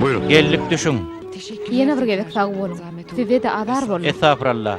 Buyurun. Geldik düşüň. Ýene bir gezek sag boluň. Size-de azar boldy. Estagfuralla.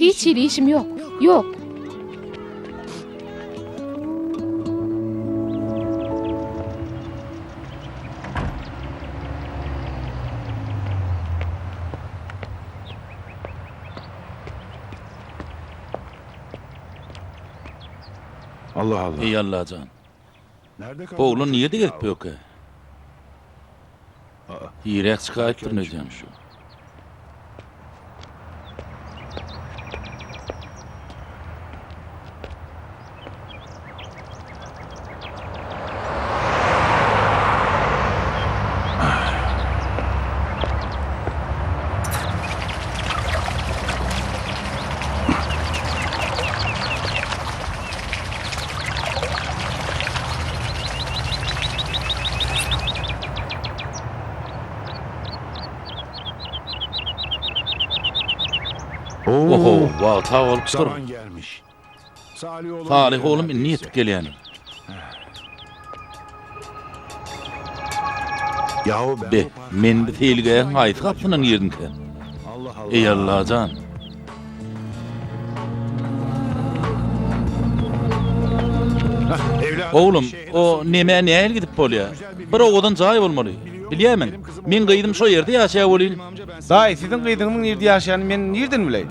Hiç hili işim ýok. Ýok. Eý Allajan! Oglan nirede gezip ýörkä? Irek çykaýypdyr mejem. Oho, wagta bolupdyr. Salyh oglum indi ýetip gelýän. Be, men bu seýilgähiň haýsy gapysyndan girdiňkäm? Eý, Allajan! Oglum, o nemä nähili gidip bolýar? Bir owadan jaý bolmaly. Bilýärmiň, meň gyzym şo ýerde ýaşaýar welin. Daýy, siziň gyzyňyzyň nirde ýaşaýanyny men nirden bileýin?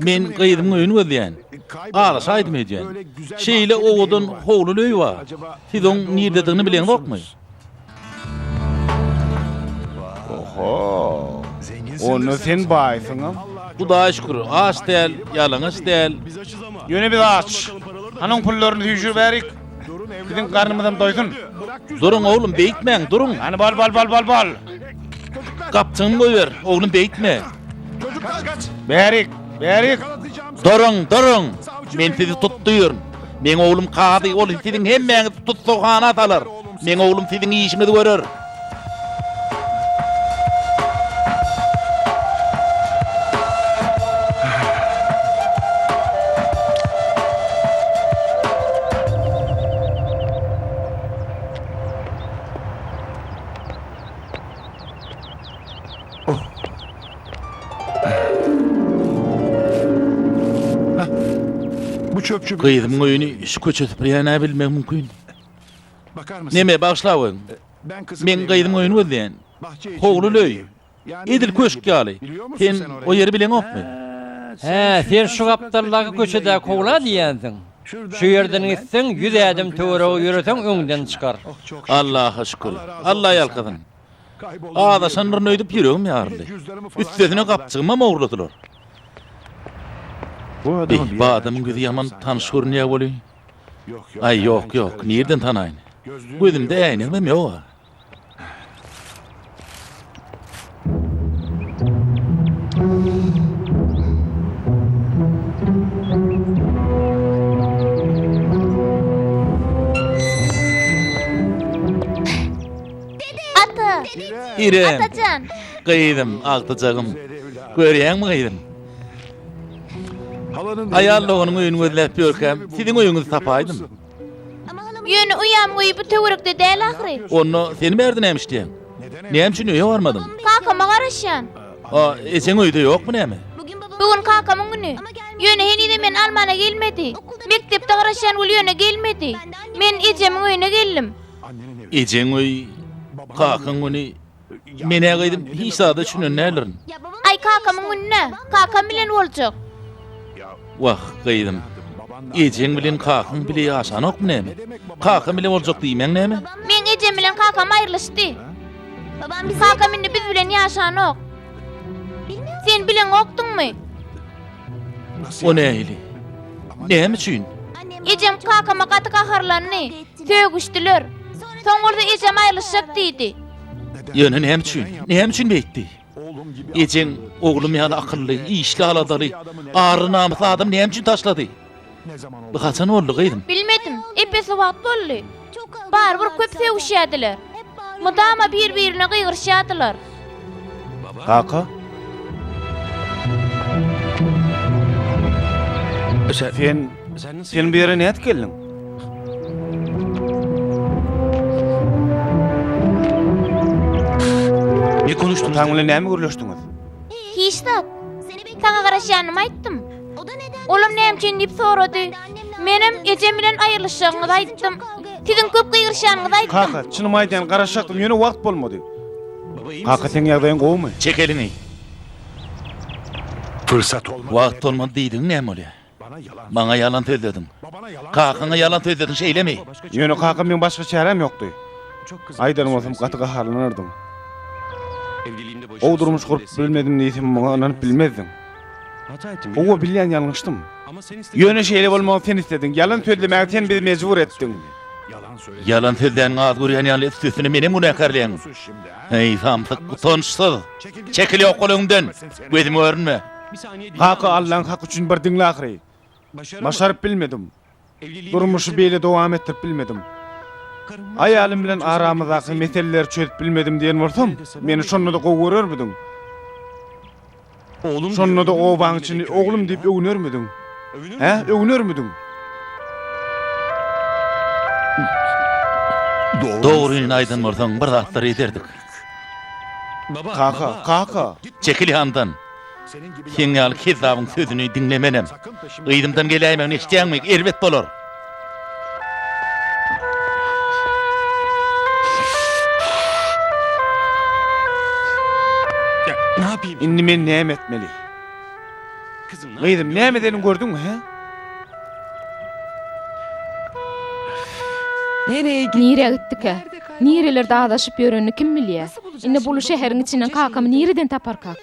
Men gyzymyň öýüni gözleýän. Galyşa aýdym öýdýän. Şeýle owadan howluly öý bar. Siz oň nirdedigini bileňzokmy? Oho! Onda sen baýsyňam. Hudaýa şükür, aç däl, ýalaňaç däl. Ýöne biz aç. Hany oň pullaryny süýşüriberik. Biziň garnymyzam doýsun. Duruň, oglum, beýtmäň, duruň. Hany bal, bal, bal, bal, bal! Gapjygyňy goýber, oglum, beýtme. Çocuklar kaç. Bärik, bärik. Duruň, duruň. Men sizi tutdyryn. Meň oglum kazy, ol siziň hemmäňizi tussagana salar. Meň oglum siziň işiňizi görer. Gyzymyň öýüni şu köçe süpürýän-ä bilmegi mümkin. Neme, bagyşlawyň. Men gyzymyň öýüni gözleýän. Howluly öý. Edil köşk ýaly. Sen o ýeri bileňokmy? Hä, sen şu gapdaldaky köçedäki howla diýýänsiň. Şu ýerden gitseň, ýüz ädim töwerege ýöreseň öňden çykar. Allaha şükür. Alla ýalkasyn. Azaşandyryn öýdüp ýüregim ýaryldy. Üstesine gapjygymam ogurladylar. Eý, bu adamyň ýüzi ýaman tanyş görünýär welin. Aý, ýok, ýok, nireden tanaýyn. Gözümde äýnegimem ýog-a. Ata! Hirem! Atajan! Gyzym, agtyjagym. Görýäňmi gyzym? Aýal doganyň öýüni gözläp ýörkäm, siziň öýüňizi tapaýdym. Ýöne uýam öýi bu töwerekde däl ahyry. Onda seni bärde näme işleýäň? Näme üçin öýe barmadyň? Kakama garaşýan. A, ejeň öýde ýokmy näme? Bu gün kakamyň güni. Ýöne henizem meni almana gelmedi. Mekdepde garaşýan gül ýöne gelmedi. Men ejemiň öýüne geldim. Ejeň we kakaň güni Men-ä gyzym hiç zada düşünen däldirin. Aý kakamyň gününe kakam bilen boljak. Wah gyzym. Ejeň bilen kakaň bile ýaşanokmy näme? Kakam bile boljak diýmäň näme? Meň ejem bilen kakam aýrylyşdy. Kakam indi biz bilen ýaşanok. Sen bileňokdyňmy? O nähili? Näme üçin? Ejem kakama gaty gaharlandy. Sögüşdiler. Soň bolsa ejem aýrylyşjak diýdi. Ýöne näme üçin? Näme üçin beýtdi? Ejeň oglum ýaly akylly, işli-aladaly, ary-namysly adam näme üçin taşlady? Bu haçan boldy gyzym? Bilmedim, epesli wagt boldy. Barybir köp sögüşýädiler. Mydama bir-birine gygyryşýadylar. Kaka? Sen, sen bu ýere nädip geldiň? Ataň bilen näme gürleşdiňiz? Hiç zat. Saňa garaşýanymy aýtdym. Olam näme üçin diýip sorady. Menem ejem bilen aýrylyşjagyňyzy aýtdym. Siziň köp gygyryşýanyňyzy aýtdym. Kaka, çynymy aýdýan, garaşjakdym, ýöne wagt bolmady. Kaka, seň ýagdaýyň gowumy? Çek eliňi. Wagt bolmady diýdigiň näme bolýar? Maňa ýalan sözlediň. Kakaňa ýalan sözlediň, şeýlemi? Ýöne kaka, meň başga çäräm ýokdy. Aýdan bolsam, gaty gaharlanardyň. Gowy durmuş gurup bilmedim diýsem, muňa ynanyp bilmezdiň. Howwa bilýän ýalňyşdym. Ýöne şeýle bolmagyny sen islediň. Ýalan sözlemäge sen bizi mejbur etdiň. Ýalan sözläniňi az görýän ýaly üstesine menem günäkärleýäň. Heý samsyk utançsyz. Çekil ýokgal öňümden. Gözümi görünme. Kaka Allaň haky üçin bir diňle ahyry. Başaryp bilmedim. Durmuşy beýle dowam etdirip bilmedim. Aýalym bilen aramyzdaky meseleleri çözüp bilmedim diýen bolsam, meni şonda-da gowy görermidiň? Şonda-da obaň içinde oglum diýip öwünermidiň? Hä, öwünermidiň? Dogryny aýdan bolsaň, bir zatlar ederdik. Kaka, kaka! Çekil ýandan! Seň ýaly kezzabyň sözüni diňlemenem. Yzymdan geläýmegini eşidýäňmi? Erbet bolar. Indi men näme etmeli? Gyzym, näme edenin gördüňmi, hä? Nirä gitdikä? Nirelerde azaşyp ýörenini kim bilýä? Indi buly şäheriň içinden kakamy nireden taparkak?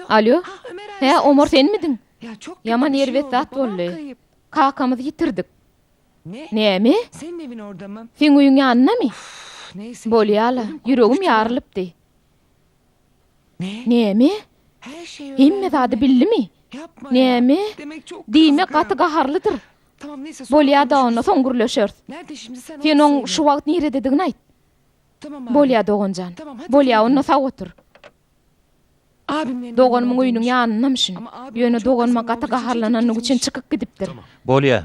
Alo. Hä, Omar senmidiň? Ýaman erbet zat boldy. Kakamyzy ýitirdik. Näme? Seň öýüň ýanyndamy? Bolýa-la, ýüregim ýarylypdy. Näme? Hemme zady bildimi? Näme? Diýmek, gaty gaharlydyr. Bolýa-da, onda soň gürleşeris. Sen oň şu wagt nirededigini aýt. Bolýa, doganjan. Bolýa, onda sag otur. Doganymyň öýüniň ýanyndammyşyn. Ýöne doganyma gaty gaharlanandygy üçin çykyp gidipdir. Bolýa.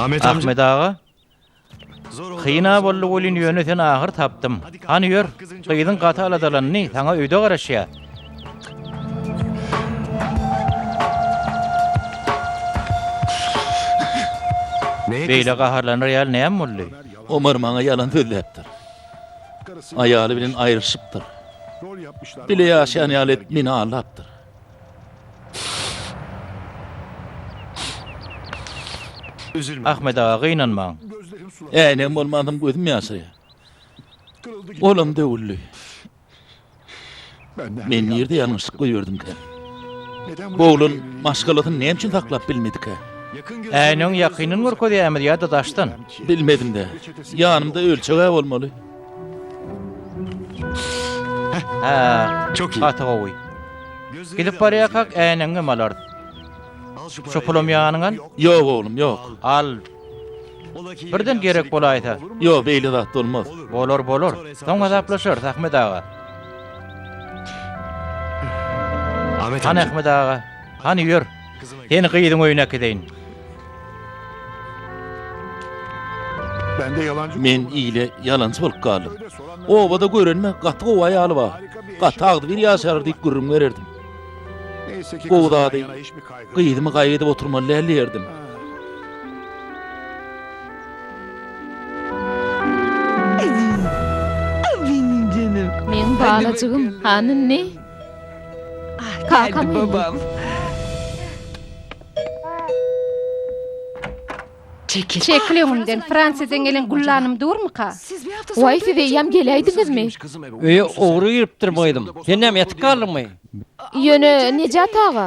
Ahmet aga, kyn-a boldy welin, ýöne seni ahyr tapdym. Hany, ýör, gyzyň gaty aladalandy, saňa öýde garaşýar. Beýle gaharlanar ýaly näme boldy? Omar maňa ýalan sözläpdir. Aýaly bilen aýrylyşypdyr. Bile ýaşaýan ýaly edip meni aldapdyr. Ahmet aga gynanmaň. Äýnegim bolman soň gözüm ýaşaýar. Olam döwüldi. Men nirde ýalňyşlyk goýberdiňkä? Bu oglan maşgalasyny näme üçin saklap bilmedikä? Äýnegiň ýakyndan görkezýämiz ýa-da daşdan? Bilmedim-dä. Ýanymda ölçeg-ä bolmaly. Çok iyi. Gaty gowy. Gidip barýakak äýnegiňem alarys. Şu pulam ýanyňa al. Yok oğlum yok. Al. Birden gerek bolaýsa. Yok beýle zat olmaz. Bolar bolar. Soň hasaplaşarys Ahmet aga. Ahmet Han Ahmet aga. Han ýör. Seni gyzyň öýüne äkideýin. Men ile ýalançy bolup galdym. Obada görenime gaty gowy aýaly bar. Gaty agzybir ýaşarlar diýip gürrüň bererdim. Gowy zady, gyzymy gaýgy edip oturmaly däl diýerdim. Meň balajygym, hany indi? Kakam geldi. Çekil öňümden, Fransiýadan gelen güllanym durmyka? Waý, siz eýýäm geläýdiňizmi? Öýe ogry giripdir boýdum. Sen näme ýatyp galdyňmy? Ýöne, Nejat aga,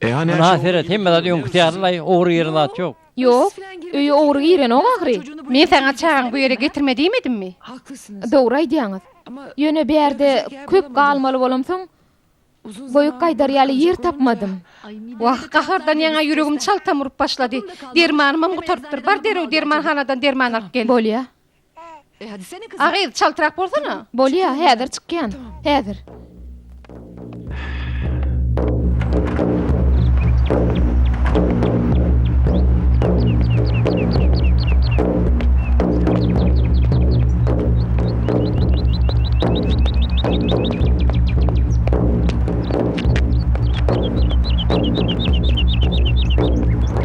Ynha seret, hemme zat öňküsi ýalylaý, ogry giren zat ýok. Ýok, öýe ogry girenok ahyry. Men saňa çagaňy bu ýere getirme diýmedimmi? Dogry aýdýaňyz. Ýöne bu ýerde köp galmaly bolamsoň, goýup gaýdar ýaly ýer tapmadym. Wah, gahardan ýaňa ýüregim çaltam urup başlady. Dermanymam gutarypdyr. Bar derrew dermanhanadan derman alyp gel. Bolýa. A gyz, çaltrak bolsana. Bolýa, häzir çykýan. Häzir.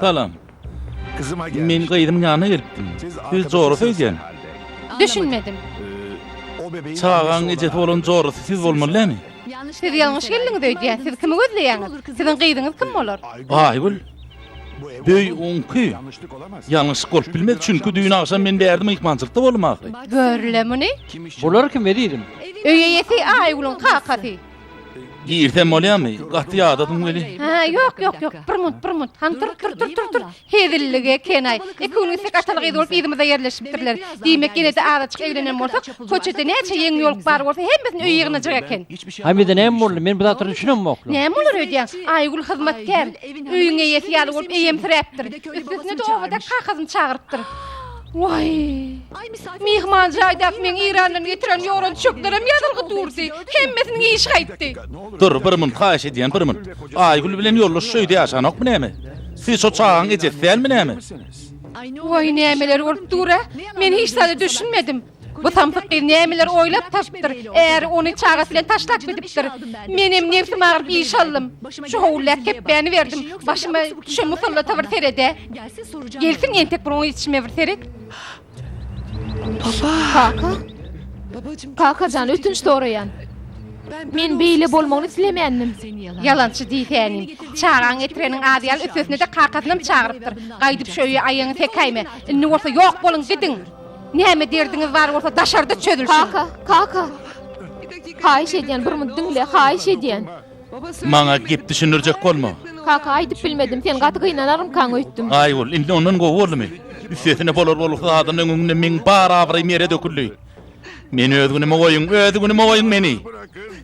Salam. Men gyzymyň ýanyna gelipdim. Siz jorasy öýdýän. Düşünmedim. Çagaň ejesi bolan jorasy siz bolmaly dämi? Siz ýalňyş geldiňiz öýdýän. Siz kimi gözleýäňiz? Siziň gyzyňyz kim bolar? Aýgül. Öý oňki. Ýalňyşlyk bolup bilmez, çünki düýn agşam men bärde myhmançylykda boldum ahyry. Gör-le muny! Bular kim ezizim? Öý eýesi Aýgülüň kakasy. Girsem bolýarmy? Gaty ýadadym weli. Hä, ýok, ýok, ýok. Bir munt, bir munt. Han tur, tur, tur, tur, tur. Hezillik eken-aý. Iki gün gitsek ataly gyz bolup yzymyza ýerleşipdirler. Diýmek, ýene-de azajyk eglenen bolsak, köçede näçe ýeňňe ýolup bar bolsa, hemmesini öýe ýygnajak eken. Hamize näme boldy? Men bu zatlara düşünemokla. Näme bolar öýdýäň? Aýgül hyzmatkär. Öýüň eýesi ýaly bolup eýemsiräpdir. Üstesine-de owadan kakasyny çagyrypdyr. Waý! Myhman jaýdaky meň Eýrandan getiren ýoran çöklerim ýazylgy durdy. Hemmesiniň işi gaýtdy. Dur, bir minut haýyş edýän, bir minut. Aýgül bilen ýoldaş şu öýde ýaşanokmy näme? Siz şo çagaň ejesi dälmi näme? Waý, nämeler bolup dur-a? Men hiç zada düşünmedim. Bu samsyk gyz nämeler oýlap tapypdyr, äri ony çagasy bilen taşlap gidipdir. Menem nebsim agyryp iş aldym. Şu howuldak kepbäni berdim. Başyma düşen musallata bir sered-ä. Gelsin entek bir oň içime bir seret. Kaka? Kaka jan, ötünç soraýan. Men beýle bolmagyny islemändim. Ýalançy diýsänim. Çagaň getireniň ady ýaly üstesine-de kakasynam çagyrypdyr. Gaýdyp şu öýe aýagyňy sekäýme. Indi bolsa ýok boluň, gidiň! Näme derdiňiz bar bolsa daşarda çözülsin. Kaka, kaka. Haýyş edýän bir munt diňle, haýyş edýän. Maňa gep düşündirjek bolma. Kaka aýdyp bilmedim, sen gaty gynanarmykaň öýtdüm. Aýgül, indi ondan gowy boldumy? Üstesine bolar bolsa adyň öňünde meň bar abraýym ýere döküldi. Meni öz günüme goýuň, öz günüme goýuň meni.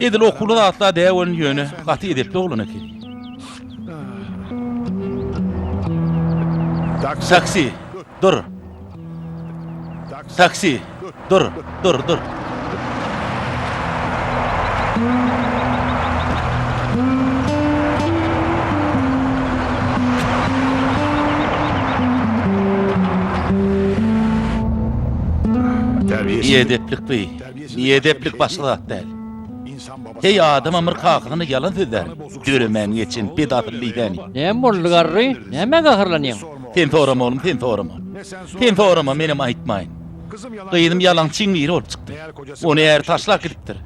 Edil okuwly zatla dä welin ýöne gaty edepli oglan ekeni. Taksi. Dur. Taksi. Dur, dur, dur. Biedeplikli. Biedeplik başga zat däl. Heý adam amr kakasyna ýalan sözlär. Döremäň geçen bed asyl diýsäni. Näme boldy garry? Nämä gaharlanýaň? Sen sorama oglum sen sorama. Sen sorama menem aýtmaýyn. Gyzym ýalançyň biri bolup çykdy. Ony äri taşlap gidipdir.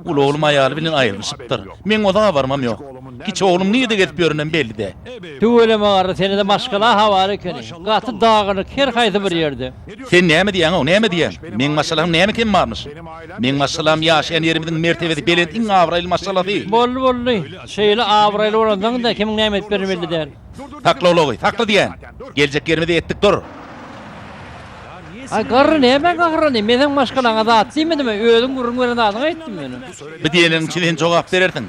Uly oglum aýaly bilen aýrylyşypdyr. Meň oza habarymam ýok. Kiçi oglum nirde gezip ýörenem belli däl. Tüweleme garry senede maşgala ha bar ekeni. Gaty dagynyk her haýsy bir ýerde. Sen näme diýýäňow, näme diýýäň? Meň maşgalaň näme kemi barmyş? Meň maşgalam ýaşaýan ýerimiziň mertebesi belent iň abraýly maşgalasy. Boldy, boldy. Şeýle abraýly bolansoň-da kimiň näme edip birini belli däl. Sakla ulagy, sakla diýýän! Geljek ýerimizi etdik dur. Aý, garry, näme gaharlanyň? Men seň maşgalaňa zat diýmedimi? Özüň gürrüň beren zadyňy aýtdym men. Bu diýeniň üçin sen jogap berersiň.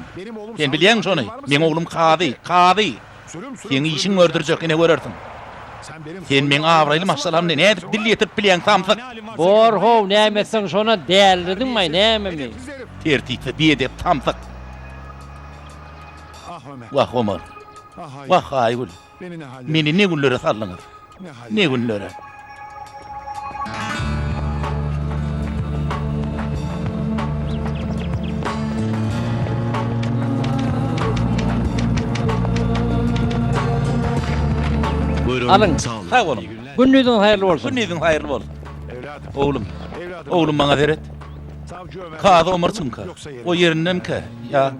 Sen bilýäňmi şony? Meň oglum kazy, kazy! Seň işiň gördürjek, ine görersiň. Sen meň abraýly maşgalamda nädip dil ýetirip bilýäň, samsyk? Bor-how, näme etseň şona dälirdiňmaý, nämemi? Tertipsiz, biedep, samsyk! Wah, Omar! Wah, Aýgül! Meni ne günlere saldyňyz? Ne günlere. Alyň. Sag boluň. Gündiziň haýyrly bolsun. Gündiziň haýyrly bolsun. Oglum. Oglum maňa seret. Kazy Omar çynka. O ýerindenkä? Ýa.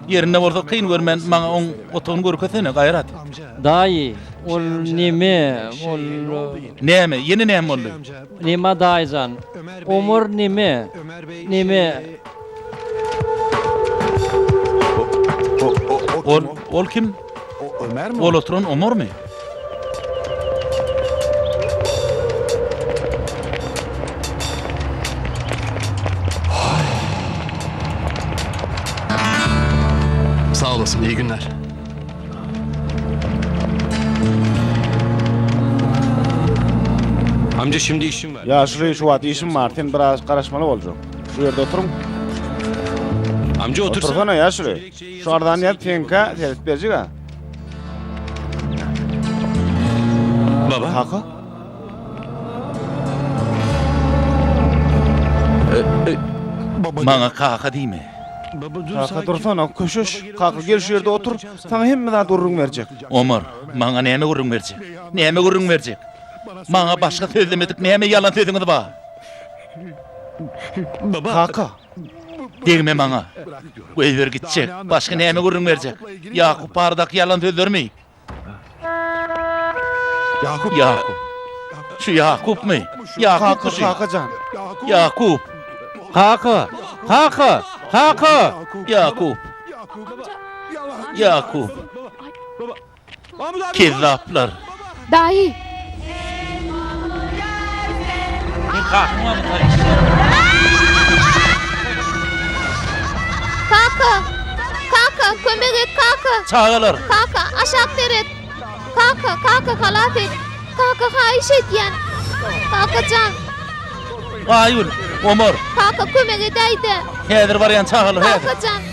Ýerinde bolsa kyn görmän maňa oň otagyny görkezsene Gaýrat. Daýy, ol neme, ol. Näme, ýene näme boldy? Neme daýyjan. Omar neme, neme. Ol, ol kim? O Ömermi? Ol oturan Omarmy? Sag olasyn, iyi günler. Amca şimdi işim var. Yaşly şu wagt işim bar, sen biraz garaşmaly boljak. Şu ýerde oturyň. Amca otursana. Otursana yaşly. Şu arzany ýaz penka serit berjik-a. Baba. Kaka. Maňa kaka diýme. Kaka dursana, köşeş. Kaka gel şu ýerde otur. Saňa hemme zat gürrüň berjek. Omar, maňa näme gürrüň berjek? Näme gürrüň berjek? Maňa başga sözlemedik näme ýalan sözüňiz bar? Kaka. Degme maňa! Goýber gitjek! Başga näme gürrüň berjek? Ýakup baradaky ýalan sözlermi? Ýakup! Ýakup! Şu Ýakupmy? Ýakupmy şu? Kaka jan! Ýakup! Kaka! Kaka! Kaka! Ýakup! Ýakup! Ýakup! Kezzaplar. Daýy. Kaka. Kaka kömek et kaka. Çagalar. Kaka aşak seret. Kaka kaka halas et. Kaka haýyş edýän. Kaka jan. Aýül. Omar. Kaka kömek edäýde. Häzir barýan çagalar. Kaka jan.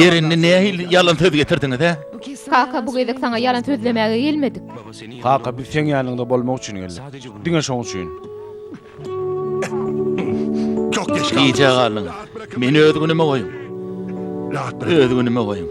Ýer indi nähili ýalan söz getirdiňiz-ä? Kaka bu gezek saňa ýalan sözlemäge gelmedik. Kaka biz seň ýanyňda bolmak üçin geldik. Diňe şoň üçin. Gijä galdyň. Meni öz günüme goýuň. Öz günüme goýuň.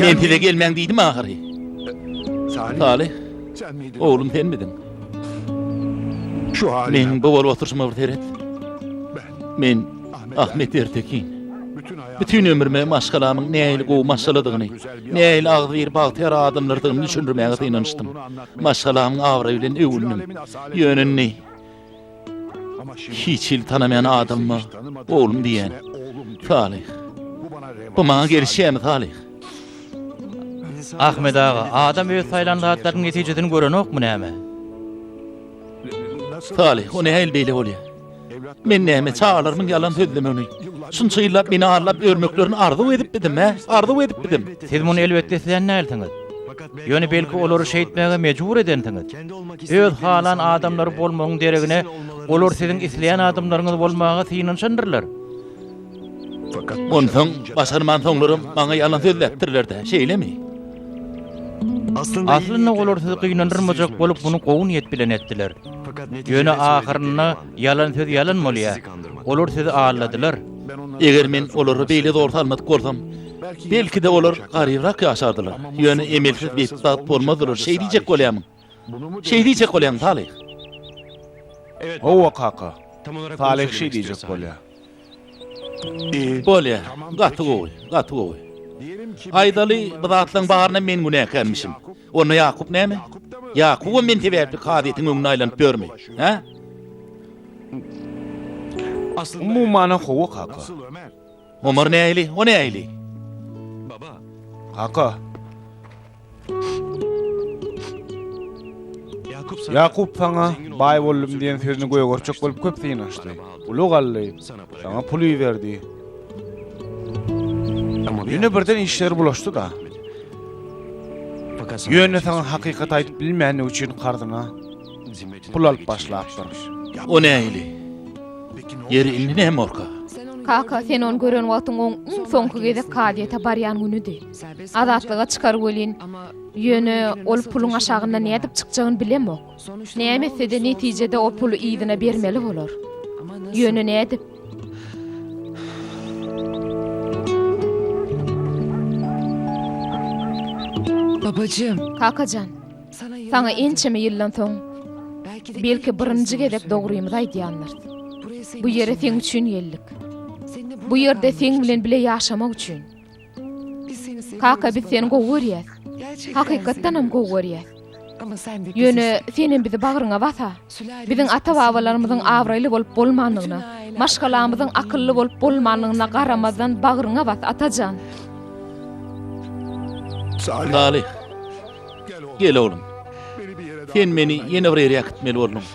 Men size gelmäň diýdim ahyry. Salyh, oglum senmidiň? Meniň bu bolup oturyşyma bir seret. Men Ahmet Ertekin. Bütin ömrüme maşgalamyň nähili gowy maşgaladygyny, nähili agzybir bagtyýar adamlardygyny düşündirmäge synanyşdym. Maşgalamyň abraýy bilen öwündim. Ýöne indi hiç hili tanamaýan adamyma oglum diýýän. Salyh. Bu maňa gelişýärmi, Salyh? Ahmet aga, adam öz saýlan zatlarynyň netijesini görenokmy näme? Salyh, o nähili beýle bolýar? Men näme, çagalarymyň ýalan sözlemegini, şunça ýyllap meni arlap ýörmeklerini arzuw edipmidim-ä? Arzuw edipmidim? Siz muny elbetde islän dälsiňiz. Ýöne belki olary şeýtmäge mejbur edensiňiz. Öz halan adamlary bolmagyň deregine, olar siziň isleýän adamlaryňyz bolmaga synanyşandyrlar. Onsoň başarmansoňlaram maňa ýalan sözläpdirler-dä, şeýlemi? Aslynda olar sizi gynandyrmajak bolup muny gowy niýet bilen etdiler. Ýöne ahyrynda ýalan söz ýalan bolýar. Olar sizi aldadylar. Eger men olara beýle zor salmadyk bolsam, belki-de olar garybrak ýaşardylar. Ýöne emelsiz betbagt bolmazdylar şeý diýjek bolýarmyň? Şeý diýjek bolýaň, Salyh? Hawa, kaka. Salyh şeý diýjek bolýar. Bolýar. Gaty gowy, gaty gowy. Aýdaly, bu zatlaryň baryna men günäkärmişim. Onda Ýakup näme? Ýakubam men sebäpli kazyýetiň öňüne aýlanyp ýörmi? Hä? Umuman-a hawa, kaka. Omar nähili? O nähili? Baba. Kaka. Ýakup saňa baý boldum diýen sözüni göýä görçek bolup köp synaşdy. Uly galdy. Saňa pul iberdi. Ýöne birden işleri bulaşdy-da. Ýöne saňa hakykaty aýdyp bilmänligi üçin karzyna pul alyp başlapdyr. O nähili? Ýeri indi nämorka? Kaka, sen ony gören wagtyň oň iň soňky gezek kazyýete barýan günüdi. Azatlyga çykar welin, ýöne ol puluň aşagynda nädip çykjagyny bilemok. Näme etse-de netijede o puly yzyna bermeli bolar. Ýöne nädip? Babajym! Kakajan! Saňa ençeme ýyldan soň, belki, birinji gezek dogrymyzy aýdýandyr. Bu ýere seň üçin geldik. Bu ýerde seň bilen bile ýaşamak üçin. Kaka, biz seni gowy görýäs. Hakykatdanam gowy görýäs. Ýöne sen hem bizi bagryňa bas-a. Biziň ata-babalarymyzyň abraýly bolup bolmandygyna, maşgalamyzyň akylly bolup bolmandygyna garamazdan bagryňa bas, Atajan! Salyh! Gel, oglum. Sen meni ýene bir ýere äkitmeli bolduň.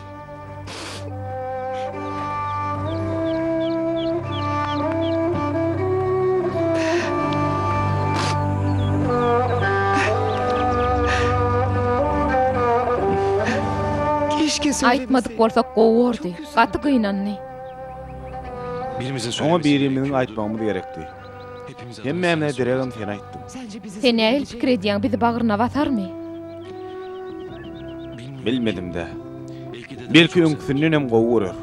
Aýtmadyk bolsak gowy bordy. Gaty gynandy. Oňa birimiziň aýtmagymyz gerekdi. Hemmäme deregem seni aýtdym. Sen nähili pikir edýäň, bizi bagryna basarmy? Bilmedim-dä. Belki öňküsindenem gowy görer.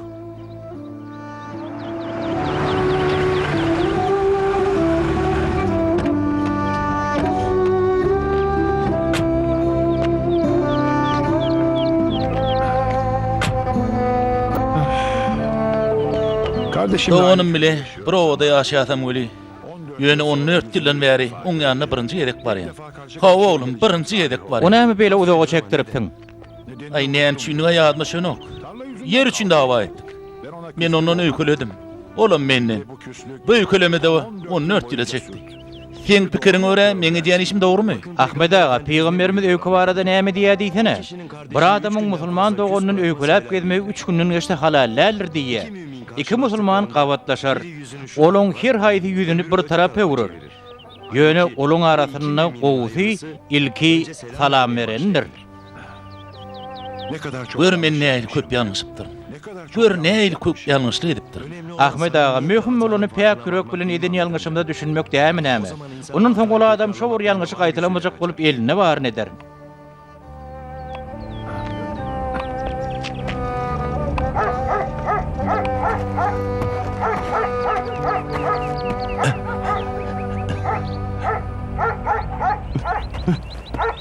Doganym bile. Bir obada ýaşaýasam weli, ýöne on dört ýyldan bäri oň ýanyna birinji gezek barýan. Hawa, oglum, birinji gezek barýan. O näme beýle uzaga çekdiripsiň? Aý, näme üçindiga ýadyma düşenok. Ýer üçin dawa etdik. Men ondan öýkeledim. Olam menden. Bu öýkelemede on dört ýyla çekdi. Seň pikiriňe görä meň edýän işim dogrymy? Ahmet aga pygamberimiz öýke barada näme diýýär diýsene. Bir adamyň musulman doganynyn öýkeläp gezmegi üç günden geçse halal däldir diýýä. Iki musulman gabatlaşar. Olaň her haýsy ýüzüni bir tarap öwrer. Ýöne olaň arasynda gowusy ilki salam berenindir. Gör men nähili köp ýalňyşypdyryn. Gör nähili köp ýalňyşlyk edipdirin. Ahmet aga, möhüm bolany päk ýürek bilen eden ýalňyşymyza düşünmek dämi näme? Ondan soň ol adam şo bir ýalňyşy gaýtalamajak bolup elinde baryny eder.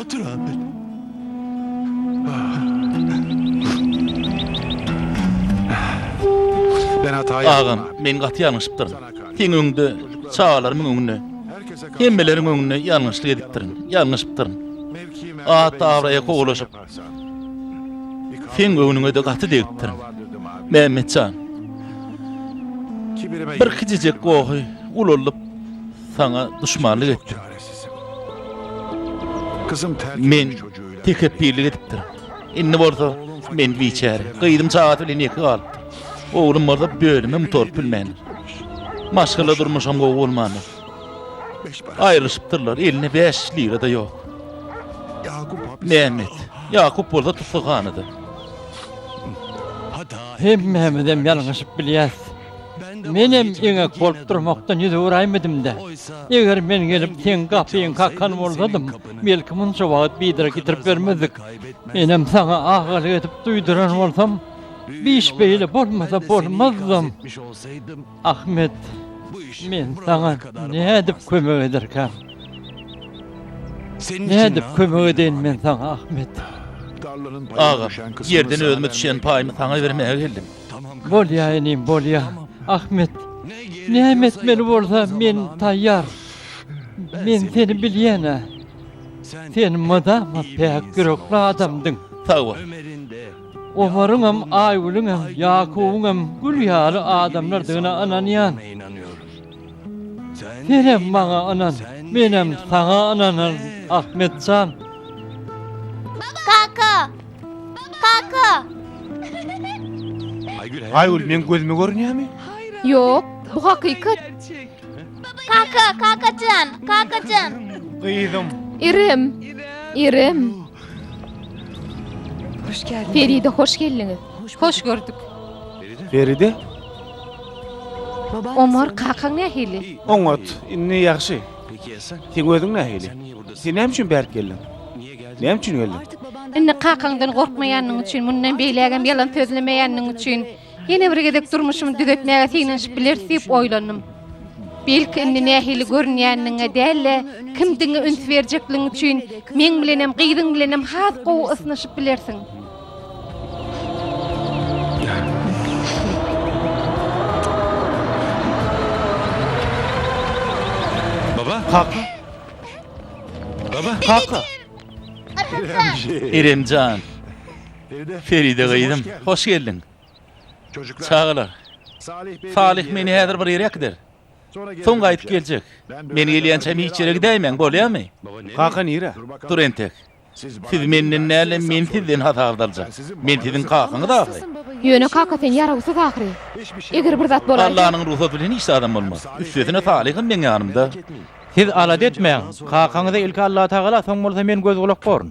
Otur Apil. Agam, men gaty ýalňyşypdyryn. Seň öňüňde, çagalarymyň öňünde, hemmeleriň öňünde ýalňyşlyk edipdirin, ýalňyşypdyryn. At-abraýa kowalaşyp, seň göwnüňe-de gaty degipdirin. Mämmet jan, bir kiçijek gohy ulaldyp, saňa duşmanlyk etdik. Men tekepbirlik edipdirin. Indi bolsa men biçäre. Gyzym çagasy bilen ýeke galypdyr. Oglum bolsa bölüme mutaryp bilmändir. Maşgala durmuşam gowy bolmandyr. Aýrylyşypdyrlar, elinde bäş lira-da ýok. Mehmet, Ýakup bolsa tussaghanada. Hemmämizem ýalňyşyp bilýäs. Menem eňek bolup durmakdan ýüz öwüräýmedim-de, eger men gelip seň gapyňy kakan bolsadym, belki munça wagt biderek ýitirip bermezdik. Menem saňa agalyk edip duýduran bolsam, bu iş beýle bolmasa bolmazdam. Ahmet, men saňa nädip kömek ederkäm? Nädip kömek edeýin men saňa, Ahmet? Agam, ýerden özüme düşýän paýymy saňa bermäge geldim. Bolýa inim bolýa. Ahmet. Näme etmeli bolsa men taýýar. Men seni bilýänä. Sen mydama päk ýürekli adamdyň. Sag bol. Omaryňam Aýgülüňem Ýakubyňam gül ýaly adamlardygyna ynanýan. Senem maňa ynan, menem saňa ynanaryn, Ahmet jan. Kaka! Kaka! Aýgül, meň gözüme görünýärmi? Ýok, bu hakykat. Kaka, kakajan, kakajan. Gyzym. Irem. Irem. Hoş geldiň. Feride hoş geldiňiz. Hoş gördük. Feride? Omar, kakaň nähili? Oňat, indi ýagşy. Seň özüň nähili? Sen näme üçin bärik geldiň? Näme üçin geldiň? Indi kakaňdan gorkmaýanyň üçin, mundan beýlägem ýalan sözlemeýäniň üçin, ýene bir gezek durmuşymy düzetmäge synanyşyp bileris diýip oýlandym. Belki, indi nähili görünýäniňe däl-de, kimdigiňe üns berjekligiň üçin, meň bilenem, gyzyň bilenem has gowy ysnyşyp bilersiň. Baba! Kaka! Baba! Kaka! Iremjan! Feride gyzym, hoş geldiň! Çagalar! Salyh meni häzir bir ýere äkider. Soň gaýdyp geljek. Men gelýänçäm hiç ýere gidäýmäň, bolýamy? Kaka nirä? Dur entek. Siz menden däl-de, men sizden hasap aljak. Men siziň kakaňyz ahyry. Ýöne kaka sen ýarawsyz ahyry. Eger bir zat bolarka. Allanyň rugsat bilen hiç zadam bolmaz. Üstesine Salygam meň ýanymda. Siz alada etmäň. Kakaňyza ilki Allatagala, soň bolsa men göz-gulak borun.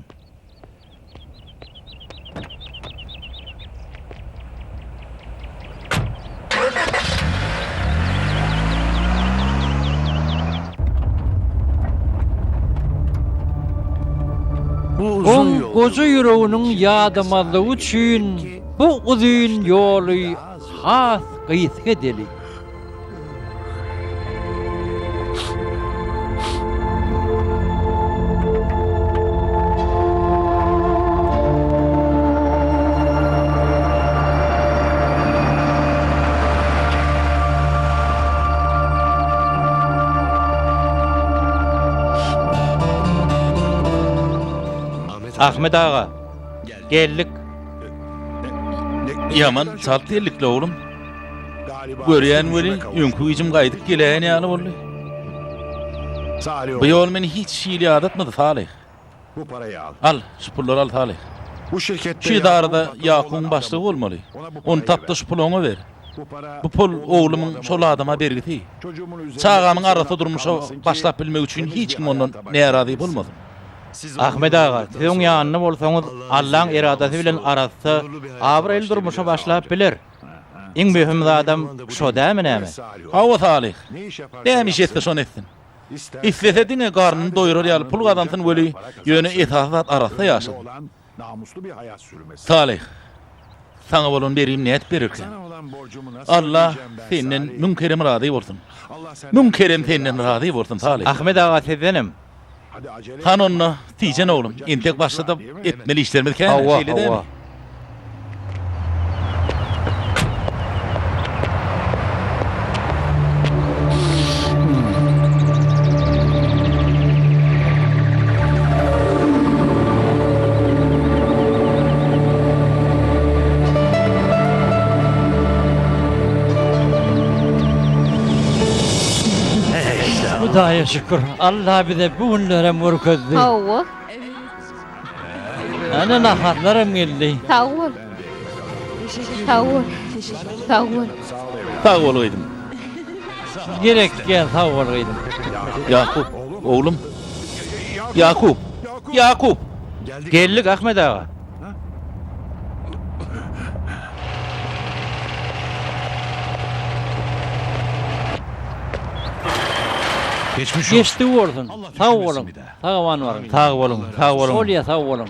goja ýüreginiň ýadamazlygy üçin bu uzyn ýoly has gysga edeli. Ahmet aga, geldik. Ýaman çalt geldik-le, oglum. Görýän weli, öňki güýjüm gaýdyp geläýen ýaly boldy. Bu ýol meni hiç hili ýadatmady, Salih. Al, şu pullary al, Salih. Şu edarada Ýakubyň başlygy bolmaly. Ony tap-da şu puly oňa ber. Bu pul oglumyň şol adama bergisi. Çagamyň arassa durmuşa başlap bilmegi üçin hiç kim ondan närazy bolmasyn. Ahmet aga, siz oň ýanynda bolsaňyz, Allaň eradasy bilen arassa, abraýly durmuşa başlap biler. Iň möhüm zadam şo dämi näme? Hawa Salyh. Näme iş etse şony etsin. Islese diňe garnyny doýurar ýaly pul gazansyn weli, ýöne esasy zat arassa ýaşasyn. Salyh. Saňa bolan berim nädip bererkäň? Alla senden müň kerem razy bolsun. Müň kerem senden razy bolsun Salyh. Ahmet aga sizdenem. Han onda, Tijen oglum, entek başlada etmeli işlerimiz kän, şeýle dälmi? Hawa, hawa. Şükür, Alla bize bu günlerem görkezdi. Sag bol. Ana naharlaram geldi. Sag bol. Sag bol. Sag bol. Sag bol gyzym. Gerekýä sag bol gyzym. Ýakup, oglum. Ýakup. Ýakup. Geldik Ahmet aga. Geçmiş olsun. Geçdi bolsun. Allah Sag düşürmesin bolun. bir daha. Sag aman baryn. Sag boluň, sag boluň. Bolýa sag bolun.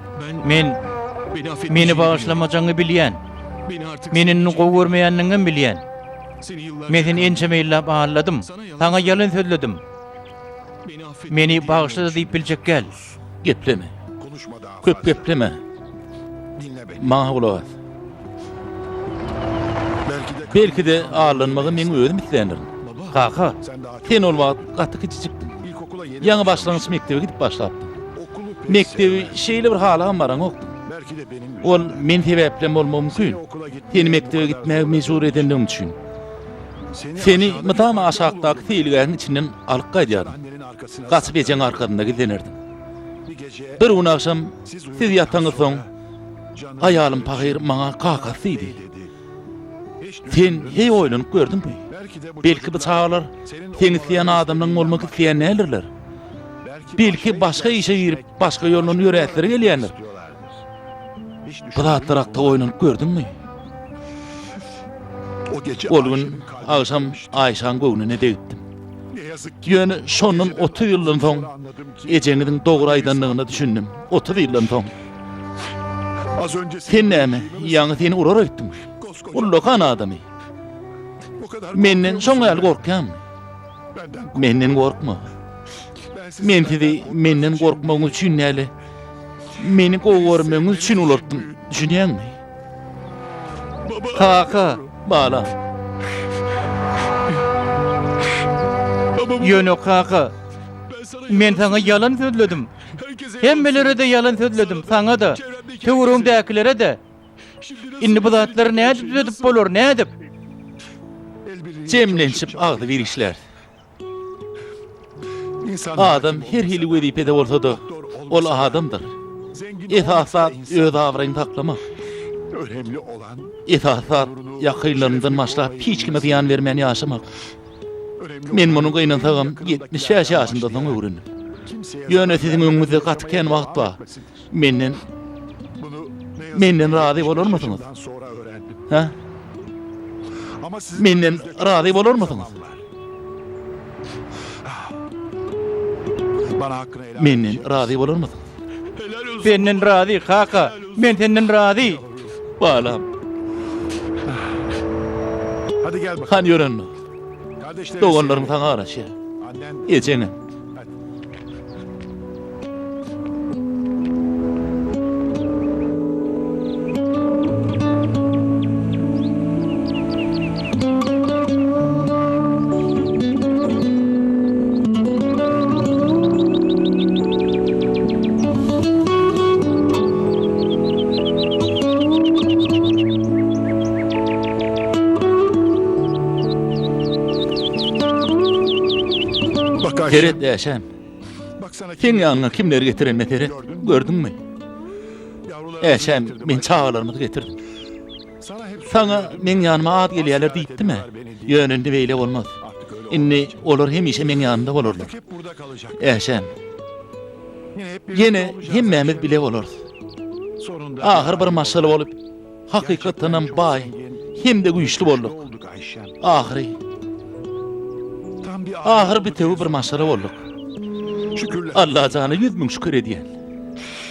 Men Meni bagyşlamajagyňy bilýän. Meni indi gowy görmeýändigiňem bilýän. Men seni ençeme ýyllap aldadym, saňa ýalan sözledim. Meni bagyşla-da diýip biljek gel. Gepleme. Köp gepleme. Maňa gulak as. Belki-de aldanmagy meň özüm isleýändirin. Kaka! Sen ol wagt gaty kiçijikdiň. Ýaňy başlangyç mekdebe gidip başlapdyň. Mekdebi şeýle bir halagam baraňokdyň. Ol men sebäplem bolmagy mümkin. Seni mekdebe gitmäge mejbur edendigim üçin. Seni mydama aşakdaky seýilgähiň içinden alyp gaýdýardym. Gaçyp ejeň arkasynda gizlenerdiň. Bir gün agşam siz ýataňyzsoň, aýalym pahyr maňa kakasy diýdi. Sen heý oýlanyp gördüňmi? Belki bu çagalar seň isleýän adamlaň bolmak isleýän däldirler. Belki başga işe girip başga ýoldan ýöräsleri gelýändir. Bu zatlar hakda oýlanyp gördüňmi? Ol gün agşam Aýşaň göwnüne degipdim. Ýöne şondan otuz ýyldan soň ejeňiziň dogry aýdandygyna düşündim. Otuz ýyldan soň. Sen näme, ýaňy seni urar öýtdüm. Ullakan adamy. Menden şoň ýaly gorkýaňmy? Menden gorkma. Men sizi menden gorkmagyňyz üçin däl, meni gowy görmegiňiz üçin ulartdym. Düşünýäňmi? Kaka, bala. Ýöne kaka, men saňa ýalan sözledim. Hemmelere-de ýalan sözledim, saňa-da, töweregiňdäkilere-de. Indi bu zatlary nädip düzedip bolar, nädip? Jemlenişip agzybir işläris. Adam her hili wezipede bolsa-da, ol adamdyr. Esasy zat öz abraýyňy saklamak. Esasy zat ýakynlarymyzdan başlap hiç kime zyýan bermän ýaşamak. Men muny gynansagam ýetmiş bäş ýaşymdan soň öwrendim. Ýöne siziň öňüňizde gaty kän wagt bar. Menden Menden razy bolarmysyňyz? Hä? Menden razy bolarmysyňyz? Menden razy bolarmysyňyz? Senden razy, kaka. Men senden razy. Balam. Hany ýör onda. Doganlaryň saňa garaşýar. Ejeňem. Seret, Äşem! Seň ýanyňa kimleri getirenime seret, gördüňmi? Äşem, men çagalarymyzy getirdim. Saňa meň ýanyma az gelýärler diýipdim-ä. Ýöne indi beýle bolmaz. Indi olar hemişe meň ýanymda bolarlar. Äşem, ýene hemmämiz bile bolarys. Ahyr bir maşgala bolup, hakykatdanam baý hem-de güýçli bolduk. Ahyry, ahyr bitewi bir maşgala bolduk. Allajana ýüz müň şükür edýän.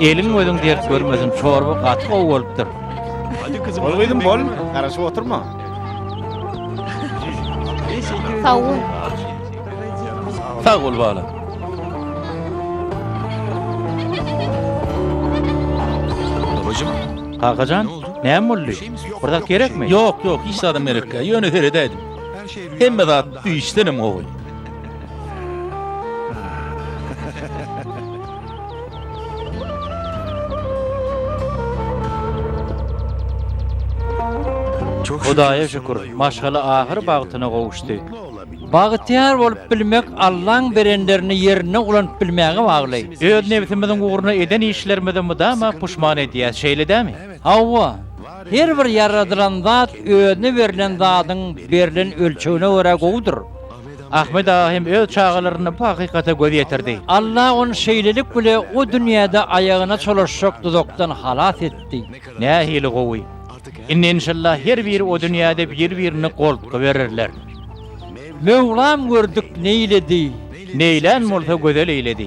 Elin gözün dert görmesin, çorba gaty gowy bolupdyr. Hadi kızım. Ol kızım bol, garaşyp oturma. Sağ ol. Sağ ol bala. Babacım. Kakacan, näme boldy? Şey bir zat gerekmi? Yok yok, hiç adam gerekli. Yöne seredeydim. Hemme zat düýşdenem gowy. Hudaýa şükür, maşgala ahyr bagtyna gowuşdy. Bagtyýar bolup bilmek Allaň berenlerini ýerine ulanyp bilmäge bagly. Öz nebsimiziň ugruna eden işlerimizi mydama puşman edýäs, şeýle dämi? Hawa. Her bir ýaradylan zat özüne berlen zadyň berlen ölçegine görä gowudyr. Ahmet aga hem öz çagalarynda bu hakykata göz ýetirdi. Alla ony şeýlelik bile o dünýäde aýagyna çolaşjak duzakdan halas etdi. Nähili gowy! Indi enşalla her biri o dünýäde bir-birini goltgy bererler. Möwlam gördük neýledi. Neýlän bolsa gözel eýledi.